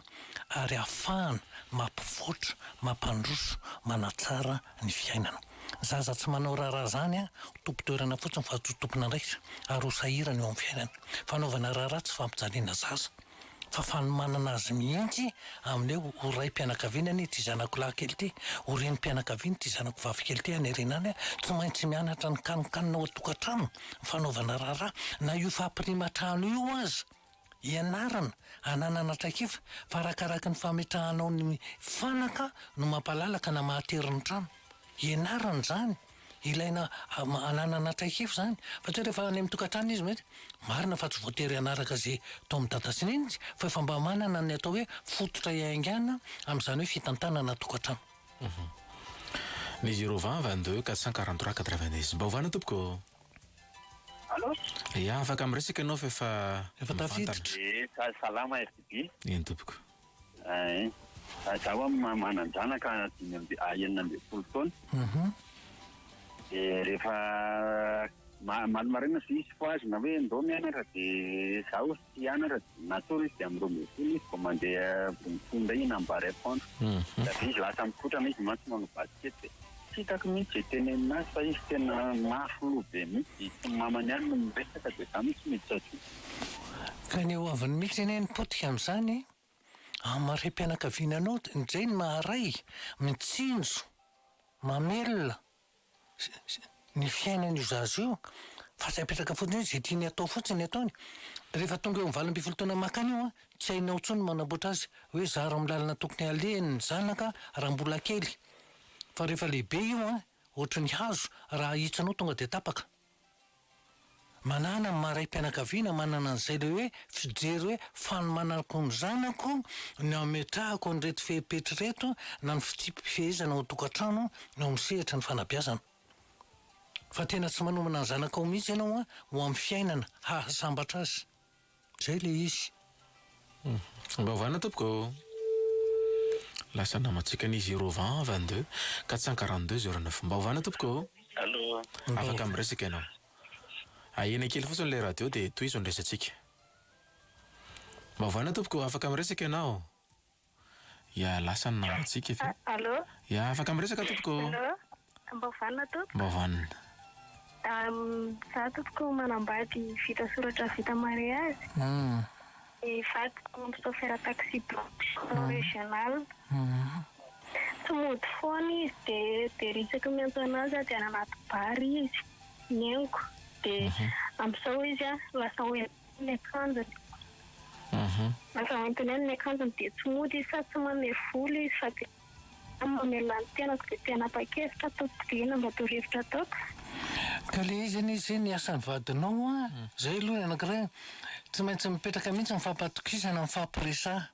ary ahafahana mampivoatra, mampandroso, manatsara ny fiainana. Ny zaza tsy manao raharaha izany ho tompon-toerana fotsiny fa tsy ho tompon'andraikitra ary ho sahirana eo amin'ny fiainana. Fanaovana raharaha tsy fampijaliana zaza. fa fanomanana azy mihitsy amin'ny hoe ho raim-pianakaviana anie ity zanako lahy kely ity, ho renim-pianakaviana ity zanako vavy kely ity hanerena any an! tsy maintsy mianatra ny kanonkanona ao an-tokantrano, ny fanaovana raharaha, na io fampirima trano io aza, ianarana hananana traikefa fa arakaraky ny fametrahanao ny fanaka no mampalalaka na mahatery ny trano, ianarana izany. Ilaina hananana traikefa izany fa tsy hoe rehefa any amin'ny tokantrano izy mety marina fa tsy voatery hanaraka izay taon'i dada sy neny izy fa efa mba manana ny atao hoe fototra hiaingàna amin'izany hoe fitantanana tokantrano. Ny zéro vingt vingt deux quatre cent quarante trois quatre vingt dix. Mba ovana tompoko. Allô? Ia, afaka miresaka ianao fa efa mivantana. Efa tafiditra. Salama RTB. Eny tompoko. Ee, za wa manan-janaka dimy amby, enina ambin'ny folo taona. Aha. Dia rehefa omaly maraina sy misy fohazina hoe ndao mianatra dia zaho tsy hianatra, natory izy dia amin'ny roa ambin'ny folo izy vao mandeha, vao mifoha indray iny amin'ny barre à pondre. Dia avy eo izy lasa mikotrana, izy mantsy manao basikety e. Tsy hitako mihitsy izay tenenina azy fa izy tena mafy loha be mihitsy dia tsy ny mamany ihany no miresaka dia za no tsy miditra aty. Ka ny hoaviny mihitsy anie ny potika amin'izany amin'ny mariham-pianakaviana anao indray ny maha-ray mitsinjo mamelona ny fiainan'io zaza io fa tsy apetraka fotsiny hoe izay tiany atao fotsiny ny ataony dia rehefa tonga eo amin'ny valo ambin'ny folo taona makany io an tsy hainao intsony ny manamboatra azy hoe zara amin'ny lalana tokony halehany ny zanaka raha mbola kely Fa rehefa lehibe io an, ohatry ny hazo raha ahitsanao tonga dia tapaka. Manana ny maha raim-pianakaviana manana an'izay le hoe fijery hoe fanomanako ny zanako ny ametrahako an'ireto fepetra ireto na ny fitsipi-pifehezana ao an-tokantrano eo amin'ny sehatry ny fanabeazana. Fa tena tsy manomana ny zanakao mihitsy ianao an ho amin'ny fiainana hahasambatra azy. Zay le izy. Mba ovana tompoko ô. Lasa namantsika ny zero vingt vingt deux quatre cent quarante deux zero neuf mba ovana tompoko ô. Allô. Afaka miresaka ianao. Ahena kely fotsiny ilay radio dia tohizo ny resatsika. Mba ovana tompoko ô, afaka miresaka ianao. Ya, lasa ny nambatsika ve? Allô? Ya, afaka miresaka tompoko. Allô? Mba vanona tompoko? Mba vanona. Za tompoko manambady vita soratra vita mariazy. Ny vadiko chauffeur taxi branche régional. Tsy mody foana izy dia very isaky ny miantso anazy aho dia any anaty bar izy, ny henoko. Dia amin'izao izy lasa ho ela. Ny akanjony. Aha. Aza manontany ahy ny akanjony dia tsy mody izy sady tsy mamehy volo izy fa dia ahy mamelona ny tenako dia te hanapa-kevitra ataoko dia inona mba torohevitra ataoko? Ka le izy anie zay ny asan'ny vadinao an! Zay aloha ny anankiray an! Tsy maintsy mipetraka mihitsy ny fampatokisana, ny fampiresaha.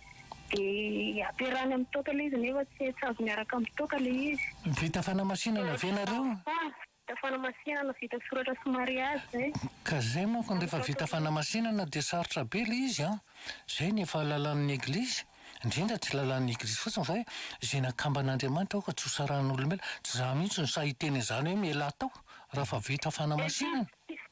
Dia ampiarahany amin'ny toaka ilay izy nefa tsy hay tsy azo miaraka amin'ny toaka ilay izy. Vita fanamasihana ve nareo? Vita fanamasihana vita soratra sy mariazy izay. Ka izay manko rehefa vita fanamasihana dia sarotra be ilay izy an! Izay ny efa lalan'ny eglizy, indrindra tsy lalan'ny eglizy fotsiny fa hoe izay nakamban'Andriamanitra aoka tsy ho sarahin'olombelona. Tsy za mihitsy no sahy hiteny an'izany hoe mialà tao raha efa vita fanamasihana.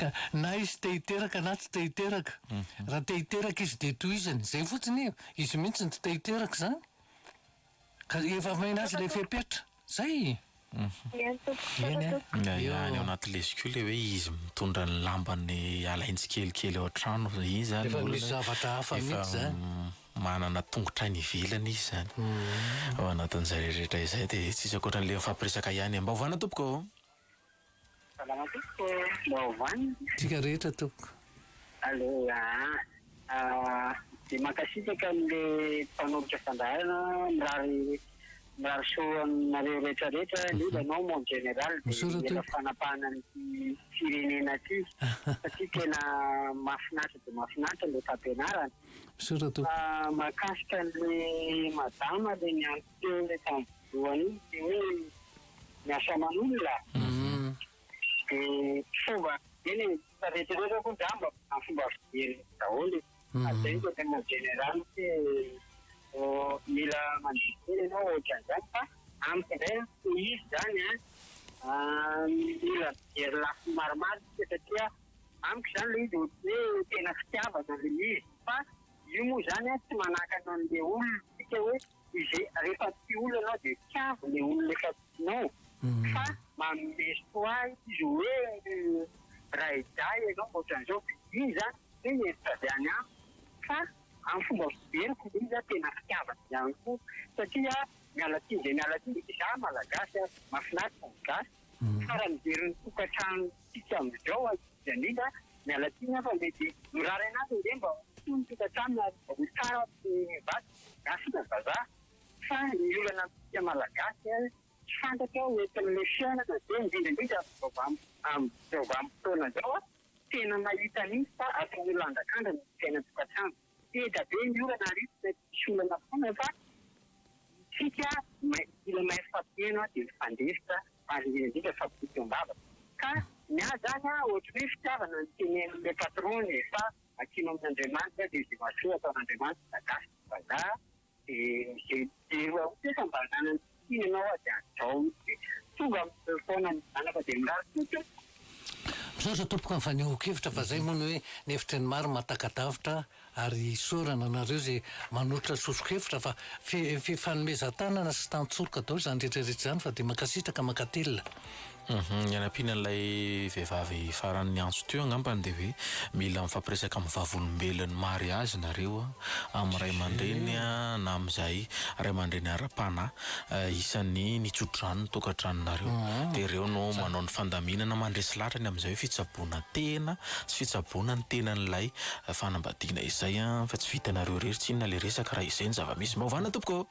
Ka na izy te hiteraka na tsy te hiteraka. Raha te hiteraka izy dia tohizany. Izay fotsiny e. Izy mihitsy no tsy te hiteraka izany. Ka efa omena azy ilay fepetra. Izay. Eny tompoko, tsara tompoko. Eny e. Any ao anaty lesy koa ilay hoe izy mitondra ny lambany alainy tsikelikely ao an-trano. Iza no olona. Efa misy zavatra hafa mihitsy izany. Efa manana tongotra any ivelany izy izany. Ao anatin'izay rehetra izay dia tsy misy ankoatra an'ilay mifampiresaka ihany e. Mba ovana tompoko o. Salama tompoko, baovao any? Tsika rehetra tompoko. Allô aa dia mankasitraka an'le mpanolotra fandaharana mirary mirary soa aminareo rehetra rehetra indrindra anao mon general dia mila fanapahana an'ity firenena ity satria tena mahafinaritra dia mahafinaritra ilay fampianarana misaotra tompoko fa mahakasika an'le madama le niantso teo le tam Voanio dia hoe miasa aman'olona. Dia fomba eny e, fa rehetra rehetra koa angamba amin'ny fomba fijery daholo e. Ary izay no tena jeneraly hoe mila mandidy kely ianao ohatran'izany fa amiko indray an, tsy izy izany an, mila mijery lafiny maromaro isika satria amiko izany ilay izy ohatry ny hoe tena fitiavana ilay izy fa io moa izany an tsy manakana an'ilay olona isika hoe. izay rehefa tia olona ianao dia tiavo ilay olona efa tianao fa manome soa ahy izy hoe ray dahy ianao ohatran'izao dia iny izany tsy hoe hevitra avy any amiko fa amin'ny fomba fijeriko dia iny izany tena fitiavana ihany koa satria miala tsiny dia miala tsiny izaho malagasy ary mahafinaritra ny gasy tsara mijery ny tokantranontsika amin'izao akia. Dia indrindra, miala tsiny aho fa mety mirary anao ve mba ho soa ny tokantrano ary mba ho tsara ny vadiko na sisa vazaha. Fa ny olana amintsika Malagasy ary tsy fantatrao eto amin'ilay fiainana dia indrindra indrindra amin'izao vam amin'izao vanim-potoana izao aho tena mahita mihitsy fa atao ho lanjakanja ny fiainan-tokantrano. Seza be ny orana ary tsy maintsy misy olana foana fa isika mila mahery fampihena dia mifandefitra ary indrindra indrindra mifampitodika am-bava ka ny ahy izany an ohatry ny hoe fitiavana ny tenenin'ilay patron-ny e fa atsimo amin'Andriamanitra dia izay mahasoa ataon'Andriamanitra na gasy na vazaha Dia izay mijery ao kosa mba hanana ny fisiany ianao aho dia hajao mihitsy dia tonga amin'ireo foana ny zanaka dia mirary soa tompoko. Misaotra tompoko amin'ny fanehoan-kevitra fa izay moa ny hoe ny hevitry ny maro mahataka-davitra ary isaorana anareo izay manolotra soso-kevitra fa fifanomezan-tanana sy tantsoroka daholo izany rehetra rehetra izany fa dia mankasitraka mankatelina. Humm ianampiana an'ilay vehivavy farany niantso teo angambany dia hoe mila mifampiresaka amin'ny vavolombelon'ny mariazy nareo a, amin'ny ray aman-dreniny a na amin'izay ray aman-dreny ara-panahy isan'ny nitso-drano ny tokantranonareo dia ireo no manao ny fandaminana mandresy lahatra ny amin'izay hoe fitsaboana tena sy fitsaboana ny tenan'ilay fanambadiana izay a fa tsy vitanareo irery tsinona ilay resaka raha izay ny zava-misy. Maovana tompoko.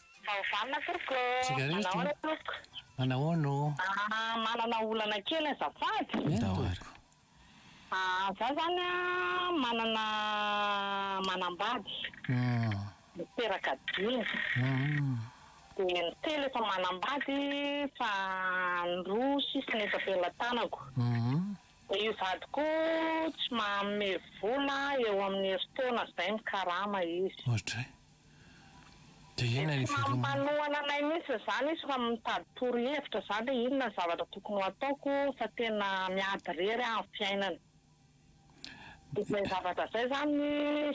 Vao vanona tompoko ô. Tsika rery ty. Manahoana tompoko. Manahoana ô. Ah, manana olana kely azafady. Ndao ary. Ah, za zany a, manana manambady. Niteraka dimy. Dia ny telo efa manambady fa ny roa sisa no efa pelatanako. Dia io vadiko io tsy manome vola eo amin'ny herintaona izay mikarama izy. Ohatr'izay. Dia inona ny veloma. Tsy mampanohana anay mintsy izany izy fa mitady toro hevitra izany hoe inona ny zavatra tokony ho ataoko fa tena miady irery aho amin'ny fiainana. Izay zavatra izay izany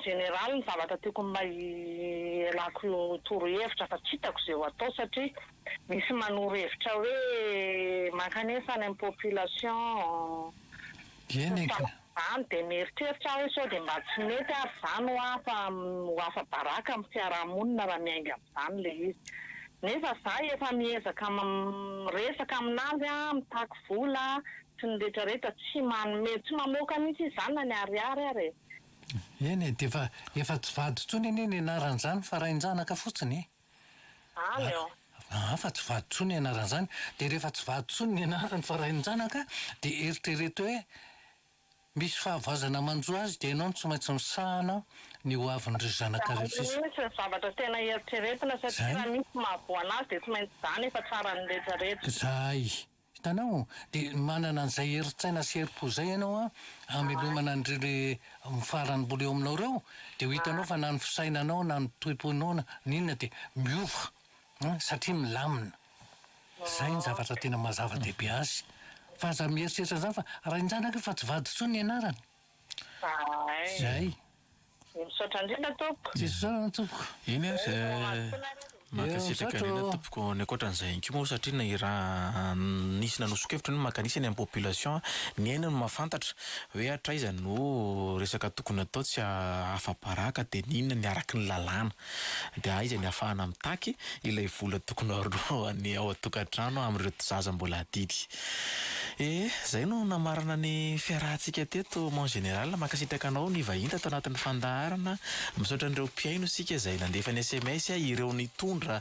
général ny zavatra tiako mba hialako toro hevitra fa tsy hitako izay ho atao satria misy manoro hevitra hoe mankanefa any amin'ny population. Dieny e ka. Zany dia mieritreritra aho hoe sao dia mba tsy mety ary zany ho afa ho afa baraka amin'ny fiarahamonina raha miainga amin'izany ilay izy. Nefa za efa miezaka miresaka aminazy an, mitaky vola sy ny retraretra tsy manome tsy mamoaka mihitsy izy zany na ny ariary ary e. Eny e, dia efa efa tsy vady intsony anie ny anaran'izany fa rain-janaka fotsiny e. Any aho. Aa fa tsy vady tsony ianarany zany de refa tsy vady tsony ny anarany fa rain-janaka de eritrereto hoe misy fahavoazana manjo azy de ianao no tsy maintsy misahana ny ho aviny ry zanakareo sisa. Zany mihintsy ny zavatra tena eritreretina satria raha misy mahavoa anazy de tsy maintsy zany efa tsaran'ny retraretra. Zay Hitanao? Dia manana an'izay herin-tsaina sy herim-po izay ianao an, hamelomana an'ireo le mifarany mbola eo aminao ireo, dia ho hitanao fa na ny fisainanao na ny toim-ponao na ny inona dia miova an, satria milamina. Izay ny zavatra tena maha zava-dehibe azy. Fa aza mieritreritra an'izany fa rain-janaka io fa tsy vady intsony ny anarany. Zay. Dia misaotra indrindra tompoko. Dia misaotra tompoko. Eny ary mankasitraka indrindra tompoko ny ankoatran'izay ihany koa moa satria ny raha nisy nanoson-kevitra ny maka an'isa ny amin'ny population ny aina no mahafantatra hoe hatraiza no resaka tokony atao tsy ahafa-baraka dia ny inona ny araky ny lalàna. Dia aiza ny afahana mitaky ilay vola tokony horohan'ny ao an-tokantrano amin'ireto zaza mbola adidy e! Izay no namarana ny fiarahantsika teto Mon Général. Mankasitraka anao nivahiny tato anatin'ny fandaharana. Misaotra an'ireo mpihaino isika izay nandefa ny sms, ireo nitondra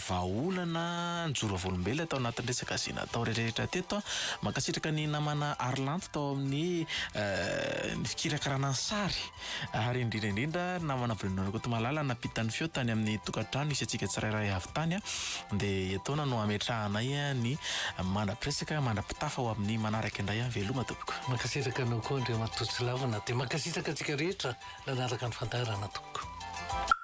vahaolana, nijoro vavolombelona tao anatin'ny resaka izay natao rehetrarehetra teto. Mankasitraka ny namana Arlanto tao amin'ny ny fikirakarana ny sary. Ary indrindra indrindra ry namana Bruno Rakotomalala nampita ny feo tany amin'ny tokantrano isantsika tsirairay avy tany dia etoana no hametrahanay ny mandrapiresaka mandrapitafa ho amin'ny manaraka indray veloma tompoko. Mankasitraka anao koa Andriamatoa Tsilavina dia mankasitraka antsika rehetra nanaraka ny fandaharana tompoko.